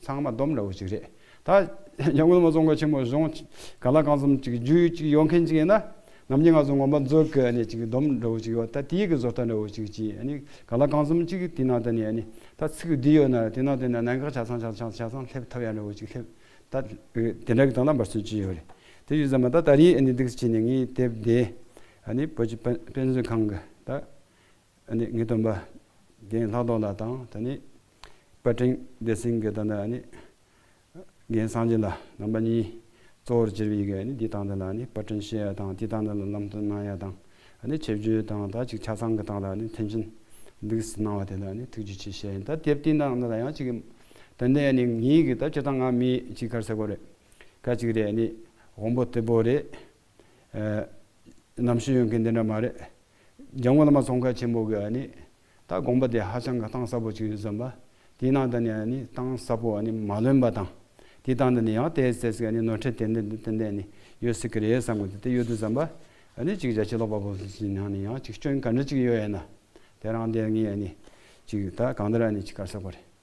S3: ཚང་མ་སྡོམ་འདྲ་བོ་ཞིག་རེད། ད། རྒྱ་མགོན་མ་རྫོང་མཁར་ཆེན་མོར་གཞུང། ག་ལ་རྐང་ཚོམ་གཅིག་རྒྱུ་ཡུལ་གཅིག་ཡོང་མཁན་ཅིག་ཡིན་ན། ནམ་རྒྱུན་ང་ཚོ་ངོམ་པ་མཛོད་དགེ་ནས་ཅིག་སྡོམ་འདྲ་བོ་ཞིག་ཡོད་ད་དེའི་གི་བཟོ་ལྟ་འདྲ་བོ་ཞིག་གཅིག་ཨ་ནི། ག་ལ་རྐང་ཚོམ་གཅིག་དེ་ནང་དུ་ནས་ཨ་ནི། ད་ཚིག་གི་འདི་ཡོད་ན་དེ་ནང་དུ་ནས་ནང་གི་ཆ་ཚང་ཆ་ཚང་ཆ་ཚང་སླེབས་ཐུབ་ཡག་འདྲ་བོ་ཞིག་སླེབས། ད། དེ་འདྲ་གི་སྟངས་ལ་འབར་ཚུལ་ཅི་ཡོད་རེད། དེ་ཡོད་ས་མ་ད་ད་རིའི་ཨ་ནི་སྡིགས་སུ་བྱས་ནས་ངའི་དེབ་དེ། ཨ་ནི་བོད་ཀྱི་དཔེ་མཛོད་ཁང་གི་ད། ངེས་སྟོན་པ། རྒན་ལྷག་རྡོར་ལ་དང་ད་ནི། པད་སྤྲིན་བདེ་སེང་གེ་དང་ད་ནི། རྒན་གསང་སྦྱིན་ལ་རྣམ་པ་གཉིས། གཙོ་བོར་གྱུར་པའི་ཡི་གེ་འདི་དང་འདི་ལ་ནི་པད་སྤྲིན་ཤེས་ཡ་དང་དེ་དང་འདི་ལ་ལམ་སྟོན་གནང་ཡ་དང་ད་ནི་ཆེ་བརྗོད་དང་ད་ཅིག་ཆ་ཚང་གི་དང་ད་ནི་མཐུན་རྐྱེན་འདུག་ཟེར་གནང་བ་དེ་ལ་ནི་ཐུགས་རྗེ་ཆེ་བཤད་ཡིན་ད་དེབ་དེ་དང་འདི་ལ་ཡང་ཅིག་ད་འདི་ཡ་ནི་ངེད་ཀྱི་ད་སྤྱི་དང་ང་མི་ཅིག་ཁར་ཟེར་གོ་རེད་ཀ་ཅིག་རེད་ནི་དབང་པོ་སྟེ་བོ་རེད་ནམ་ཞིག་ཡོང་གི་འདི་འདྲ་མ་རེད། རྒྱ་མོ་བླ་མ་ཙོང་ཁ་ཆེན་པོ་གི་ནི་ད་དགོངས་པ་དེ་ཧ་ཅང་གི་གཏང་ཟབ་པོ་ཅིག་ཡོད་ཟིན་པ། དེའི་ནང་དུ་ནི་ནི་གཏང་ཟབ་པོ་ནི་མ་ལོན་པ་དང། དེའི་སྟངས་དུ་ནི་ཡང་དེའི་ཚེ་ཟིག་ནི་ནོར་འཁྲེལ་དེ་འདི་འདི་འདི་འདི་ནི་ཡོད་སྲིད་ཀི་རེད་བསམ་གི་འདི་དེ་ཡོད་དུ་ཟིན་པ། ནི་ཅིག་རྒྱ་ཆེ་ལོག་པ་པོ་སུ་ཞིག་ནང་ནི་ཡང་ཅིག་སྐྱོན་ག་འདྲ་ཅིག་ཡོད་ཡ་ན། དེ་རང་དེ་ངས་ནི་ཅིག་ད་གང་འདྲ་ནི་ཅིག་གར་ཟེར་བ་རེད།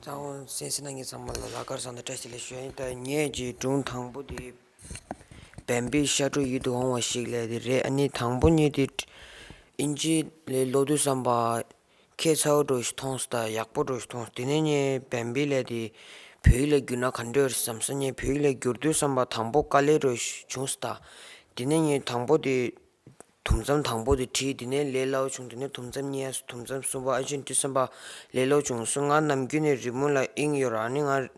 S4: གཙང་བོ་སེང་སེ་ན་ངའི་ཚང་མ་ལ་ལ་དཀར་བཟང་དང་བཀྲ་ཤིས་ལ་ཞོན་ཡིན་ད་ངས་ཀྱི་སྒྲུང་དང་པོ་དེ་བན་པོའི་ཤ་ཁྲོ་ཡིད་དུ་འོང་བ་ཞིག་ལས་དེ་རེད་ཨ་ནི་དང་པོ་གཉིས་དེ་ཨིན་ཇི་ལས་ཀློག་དུས་བསམ་པ་ཁྱད་མཚར་བོ་འགྲོ་ཞིག་མཐོང་སོང་དང་ཡག་པོ་འགྲོ་ཞིག་མཐོང་སོང་དེ་ནས་ངས་བན་པོའི་ལས་དེ་བོད་ཡིག་ལ་བསྒྱུར་ན་ག་འདྲ་འོས་བསམ་སོང་ངས་བོད་ཡིག་ལ་བསྒྱུར་དུས་བསམ་པ་དང་པོ་དཀའ་ལས་འགྲོ་ཞིག་བྱུང་སོང་དང་དེ་ནས་ངས་དང་པོ་དེ་དུམ་མཚམས་དང་པོ་དེ་བྲིས་དེ་ནས་ལས་སླ་བོ་བྱུང་དེ་ནས་དུམ་མཚམས་གཉིས་དུམ་མཚམས་གསུམ་པ་ཨ་ཆེན་ཁྲི་བསམ་པ་ལས་སླ་བོ་བྱུང་གསུང་ང་ནམ་རྒྱུན་ནས་རི་མོ་ལ་དབྱིངས་ཡོད་རང་ནི་ང་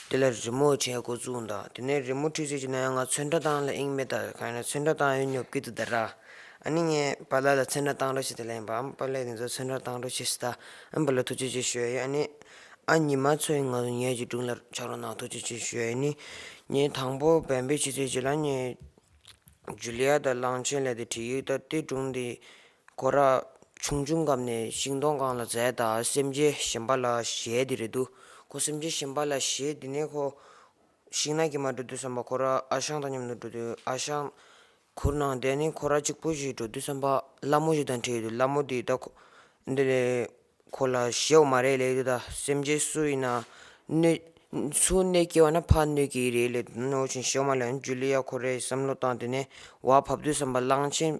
S4: འདི་ལ་རི་མོ་བྱས་མགོ་བཙུགས་འདའ་དེ་ནས་རི་མོ་ཁྲིད་ཟེར་གྱི་ན་ཡང་ང་ཚོན་ཁྲ་བཏང་ལ་དབྱིངས་མེད་ད་གང་ཡིན་ན་ཚོན་ཁྲ་བཏང་ཡོད་ཉོབ་ཀི་འདུག་ད་ར་ཨ་ནི་ངས་པཱ་ལགས་ལ་ཚོན་ཁྲ་བཏང་འགྲོ་བྱས་དེ་ལ་ཡིན་པ་ཨམ་པཱ་ལགས་དེ་ཚོ་ཚོན་ཁྲ་བཏང་འགྲོ་བྱས་སུ་ད་ཨམ་པཱ་ལགས་ཐུགས་རྗེ་ཆེ་ཞུ་ཡ་ཡོད་ཨ་ནི་ཨ་ཉི་མ་ཚོ་ཡིན་ང་ཚོ་ཉལ་གྱི་འདུག་ལར་ཆག་རོགས་གནང་ཐུགས་རྗེ་ཆེ་ཞུ་ཡ་ཡོད་ནི་ངས་དང་པོ་བན་བོན་ཕྱི་ཚེས་བརྒྱད་ལ་ངས། ཇུ་ལི་ཡ་དང་གླང་ཆེན་ལས་དེ་བྲིས་ཡིག་ལྟར་གཏེར་སྒྲུང་འདི་སྐོར་ར་ཆུང་ཆུང་སྐབས་ནས་ཤིང་སྡོང་སྒང་ལ་བཙལ་དང་སེམས་ཅན་གཞན་པ་ལ་གཞས་འདི་རེད་འདུག་ཁོ་སེམས་ཅན་གཞན་པ་ལ་གཞས་འདི་ནས་ཁོ་ཤིང་ནགས་ཀྱི་མར་འགྲོ་དུས་བསམ་པ་ཁོ་ར་ཨ་ཞང་དང་མཉམ་དུ་འགྲོ་དུས་ཨ་ཞང་གུར་ནང་བསྡད་ནས་ཁོ་ར་གཅིག་པུ་ཞིག་འགྲོ་དུས་བསམ་པ་སླ་མོ་ཞིག་དང་འཕྲད་ཡོད་འདུག་སླ་མོ་དེ་ད་ཁོ་འདི་ལས་ཁོ་ལ་ཞེའོ་མ་རེད་ལེ་འདི་ད་སེམས་ཅན་སུ་ཡིན་ན་གནོད། སུ་གནོད་སྐྱེལ་བ་ན་ཕ་གནོད་སྐྱེལ་ཡི་རེད་ལེ་ནོར་བཞིན་ཞེའོ་མ་ལ་ཡང་ཇུ་ལི་ཡ་ཁོ་རེ་བསམ་བློ་བཏང་དེ་ནས་བ་ཕབ་དུས་བསམ་པ་གླང་ཆེན།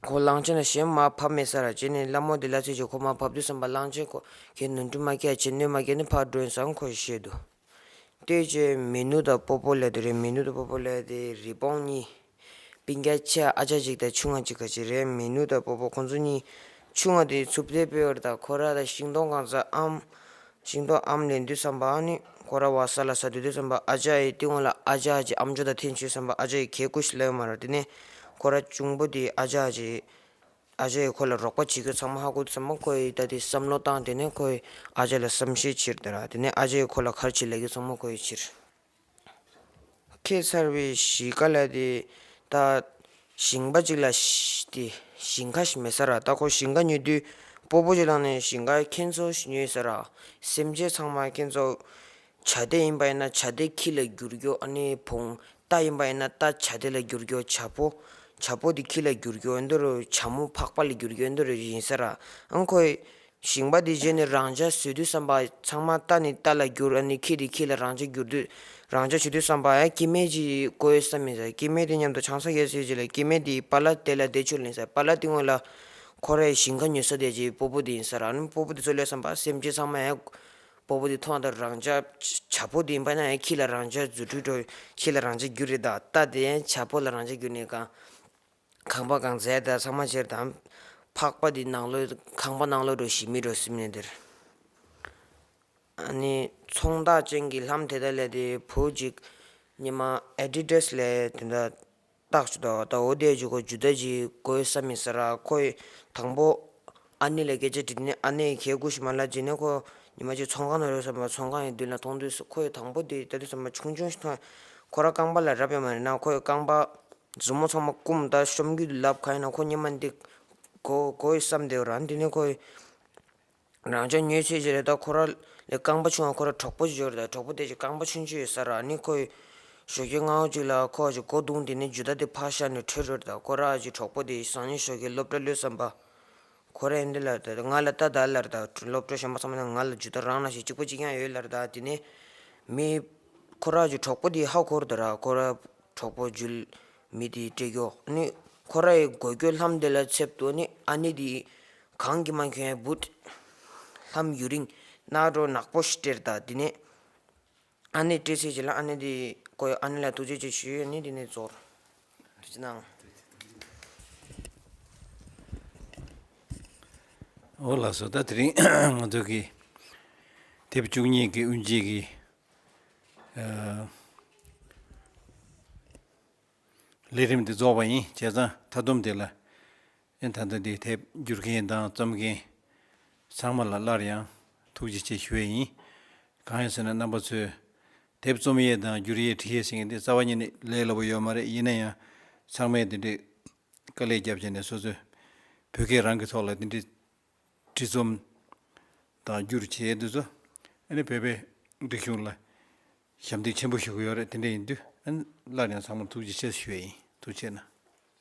S4: ཁོ་གླང་ཆེན་ལ་གཞན་མ་ཕབ་མེད་ས་ར་བྱེད་ནས་སླ་མོ་དེ་ལ་ཚེ་ཆེ་ཁོ་མ་ཕབ་དུས་བསམ་པ་གླང་ཆེན་ཁོ་ཁྱེད་ནོར་འཁྲུལ་མ་སྐྱེལ་བྱེད་གནོད་མ་སྐྱེལ་ནི་ཕར་སྒྲོན་བཟང་ཁོ་ཞེས་དུ། ལྟོས་བཅས་མི་ནུ་དང་པོ་པོ་ལས་དུ་རེ་མི་ནུ་དང་པོ་པོ་ལས་དེ་རི་སྤོང་གཉིས། པིང་ཀ་ཆ་ཨ་ཆ་གཅིག་དང་ཆུང་ང་གཅིག་ག་ཅིག་རེ་མི་ནུ་དང་པོ་པོ་ཁོ་ཚོ་གཉིས། ཆུང་ང་དེའི་ཚུབ་ཐེལ་སྤེལ་བར་དང་ཁོ་ར་དང་ཤིང་སྡོང་གང་ས་ཨམ། ཤིང་སྡོང་ཨམ་ལས་འདུལ་བསམ་པའང་ནུས། ཁོ་ར་བ་ས་ལ་ས་འདུལ་འདུལ་བསམ་པ་ཨ་ཆ་ཡི་སྟེང་འོག་ལ་ཨ་ཆ་གཅིག་ཨམ་ཅོ་དང་ཐེན་ཆུས་བསམ་པ་ཨ་ཆ་ཡི་གས་ཀུ་ཤི་ལ་ཡོད་མ་རེད་དེ་ནས་ཁོ་ར་གཅུང་པོ་དེའི་ཨ་ཆ་གཅིག། ཨ་ཅེ་ཡིས་ཁོ་ལ་རོགས་པ་བྱེད་རྒྱུ་ཚང་མ་ཧ་གོ་ཚུལ་མ་ཁོ་ཡིས་ད་ལྟའི་བསམ་བློ་བཏང་དེ་ནས་ཁོ་ཡིས་ཨ་ཅེ་ལ་བསམ་ཤེས་ཕྱིར་དེ་ར་དེ་ནས་ཨ་ཅེ་ཡིས་ཁོ་ལ་གར་བྱེད་ལས་རྒྱུ་ཚང་མ་ཁོ་ཡིས་ཕྱིར། ཁྱད་མཚར་བའི་གཞིས་ཀ་ལ་དེ་ད་ཞིང་པ་ཅིག་ལ་དེ་ཞིང་ཁ་ཞིག་མེད་ས་ར་ད་ཁོ་ཞིང་ཁ་ཉོས་དུས་སྤོ་པོ་ཞིག་ལངས་ནས་ཞིང་ཁ་ཁྱེད་ཚོ་ཞིག་ཉོས་ཡོད་ས་ར་སེམས་ཅན་ཚང་མ་ཁྱེད་ཚོ་བྱ་བདེ་ཡིན་པ་ཡིན་ན་བྱ་བདེ་ཁྱི་ལ་འགྱུར་གྱོ། བོང་རྟ་ཡིན་པ་ཡིན་ན་རྟ་བྱ་བདེ་ལ་འགྱུར་གྱོ། བྱ་ཕོ། བྱ་ཕོ་དེ་ཁྱི་ལ་འགྱུར་གྱོ། བྱ་མོ་ཕག་པ་ལ་འགྱུར་གྱོ། ཡིན་ཟེར། ཁོས། ཞིང་པ་དེ་བྱས་ནས་རང་བྱ་བཟོས་དུས་བསམ་པ། ཚང་མ་རྟ་ནི་རྟ་ལ་འགྱུར། ཁྱི་དེ་ཁྱི་ལ་རང་བྱ་འགྱུར་དུས། རང་བྱ་བྱེད་དུས་བསམ་པ། ཀྱེ་མེད་ཅིག་དགོས་བསམ་མི་ཟེར། ཀྱེ་མེད་དེ་མཉམ་དུ་ཆང་ས་བཞེས་སུ་ཡོད་ཅེས་ལབ། ཀྱེ་མེད་དེའི་པ་ལ་དེ་ལ་བདེ་ཆོས་ལེན་ཟེར། པ་ལ་དེ་དངོས་ལ། ཁོ་རས་ཞིང་ཁ་ཉོས་ས་བསྡད་ཅེས་སྤོ་པོ་དེ་ཡིན་ཟེར། སྤོ་པོ་དེ་ཚོས་ལོས་བསམ་པ། སེམས་ཅན་ཚང་མས། སྤོ་བོ་འདི་ཐོག་མཐའ་རང་ཅག་བྱ་ཕོ་འདི་འབའ་ན་ཡང་ཁྱི་ལ་རང་ཅག་རྫུ་འཕྲུལ་འགྲོ་ཁྱི་ལ་རང་ཅག་རྒྱུ་རེད་ད་ལྟ་དེ་ཡན་བྱ་ཕོ་ལ་རང་ཅག་རྒྱུ་ནི་གང། ཁང་པ་གང་བཟས་ད་ཚང་མ་ཕྱིར་དང། ཕག་པ་འདི་ནང་ལོས་ཁང་པ་ནང་ལོས་འགྲོ་ཞིག་མི་འགྲོ་སིམ་ནས་འདིར། ཨཱ་ནི། ཚོང་བདག་ཅན་གྱི་ལྷམ་དེ་དག་ལས་དེ་བུ་གཅིག། ཉི་མ Adidas ལས་དེ་འདྲ། རྟགས་སུ་དང་དང་བོ་བཟླས་བཅུག་གོ་འཇུ་ད་ཅི་དགོས་ས་མི་ཟེར་ར་ཁོ་ཡི་དང་པོ་ཨ་ནེ་ལ་སྐད་ཆ་དྲིས་ནས་ཨ་ནེ་ཡི་གད་སྐུ་ཞིག་མ་ལ་བྱིན་ནས་ཁོ་ཉི་མ་གཅིག་ཚོང་ཁང་ན་རོལ་བསམ་པ་ཚོང་ཁང་ཡི་མདུན་ལ་མཐོང་དུས་སུ་ཁོ་ཡི་དང་པོ་དེ་ད་དུས་ས་མ་ཆུང་ཆུང་ཞིག་མཐོང་ཡང་ཁོ་རང་རྐང་པ་ལ་རབ་ཡོད་མ་རེད་ན་ཁོ་ཡི་རྐང་པ་མཛུབ་མོ་ཚང་མ་བསྐུམ་ད་གཤོམ་རྒྱུད་དུ་ལབ་གང་ཡིན་ན་ཁོ་ཉི་མ་འདི་གོ་གོ་ཡི་བསམ་བསྡད་རང་དུས་ནས་ཁོ་ཡི། རང་ཅག་མྱོས་བྱེད་ཀྱི་རེ་དོགས་ཁོ་ར་ལས་རྐང་པ་ཆུང་བ་ཁོ་ར་གྲོགས་པོ་འབྱོར་དང་གྲོགས་པོ་དེ་ཀྱི་རྐང་པ་ཆུང་ཆུང་ཡོད་ས་ར་ནི་ཁོ་ཡི་ཞོ་ཁའི་ངའོ་གཅིག་ལ་ཁོ་ཀྱི་སྒོ་བརྡུངས་ཏེ་ནི་རྒྱུ་ད་དེ་ཕར་ཤར་ནས་བྲོས་འགྲོ་དང་ཁོ་ར་ཀྱི་གྲོགས་པོ་དེ་ཡི་སང་ཉིན་ཞོ་ཁའི་སློབ་གྲྭ་གློད་བསམ་པ། ཁོ་རས་འདི་ལ་དང་ང་ལ་ད་ད་ལར་དང་སློབ་གྲྭ་གཞོན་པ་ཚང་མ་དང་ང་ལ་རྒྱུ་ད་རང་ན་ཞིག་གཅིག་པོ་གཅིག་ཀྱང་ཡོད་ལར་དང་དེ་ནས་མི། ཁོ་ར་ཀྱི་གྲོགས་པོ་དེ་ཡི་ཧ་གོ་རུ་དང་ར་ཁོ་ར་གྲོགས་པོ་རྒྱུ་མི་དེ་ཡི་སྤྲད་རྒྱུ་ནི་ཁོ་ར་ཡི་སྒོ་སྐྱོད་ལྷམ་དེ་ལ་འཚེབ་ཏུ་ནི་ཨ་ནེ་དེ་ཡི་གང་གི་མ་ཁྱོད་བུད་ལྷམ་ཡུ་རིང་སྣ་སྒྲོ་ནག་པོ་ཞིག་སྤྲེར་དང་དེ་ནས་ཨ་ནེ་སྤྲེལ་ཚེ་བྱས་ལ་ཨ་ནེ་དེ་ཀོ་ཡོད་ཨ་ནེ་ལ་ཐུགས་རྗེ་ཆེ་ཞུས་ཨ་ནེ་དེ་ནས་ཚོར་ཅི་གནང།
S1: འོ་ལགས་སོ་ད་དེ་རིང་ང་ཚོ་གི་དེབ་བཅུ་གཉིས་ཀྱི་དབུ་འབྱེད་ཀྱི་ལས་རིམ་དེ་རྫོགས་པ་ཡིན་བྱས་ཙང་མཐའ་བསྡོམས་དེ་ལ། ཡང་ད་ལྟ་འདིར་ཐད་བསྒྱུར་མཁན་དང་རྩོམ་མཁན་ཚང་མ་ལ་སླར་ཡང་ཐུགས་རྗེ་ཆེ་ཞུ་བས་ཡིན། གང་ཡིན་ཟེར་ན་རྣམ་པ་ཚོས་དེབ་རྩོམ་ཡས་དང་བསྒྱུར་ཡས་བྲིས་ཡས་ཟེར་མཁན་དེ་རྩ་བ་ཉིད་ནས་ལས་སླ་པོ་ཡོད་མ་རེད་ཡིན་ན་ཡང་ཚང་མས་དེ་འདྲའི་དཀའ་ལས་བརྒྱབ་བྱས་ནས་སོ་སོས་བོད་སྐད་རང་གི་ཐོག་ལ་དེ་འདྲའི་བྲིས་རྩོམ་དང་བསྒྱུར་བྱས་ཡས་དུས་ཚོད་ནས་བོད་པའི་སྒྲིག་གཞུང་ལ་ཞབས་འདེགས་ཆེན་པོ་ཞུ་གི་ཡོད་རེད་དེ་འདྲ་ཡིན་དུས་སླར་ཡང་ཚང་མར་ཐུགས་རྗེ་ཆེ་ཞུ་བས་ཡིན་ཐུགས་ཆེ་ན།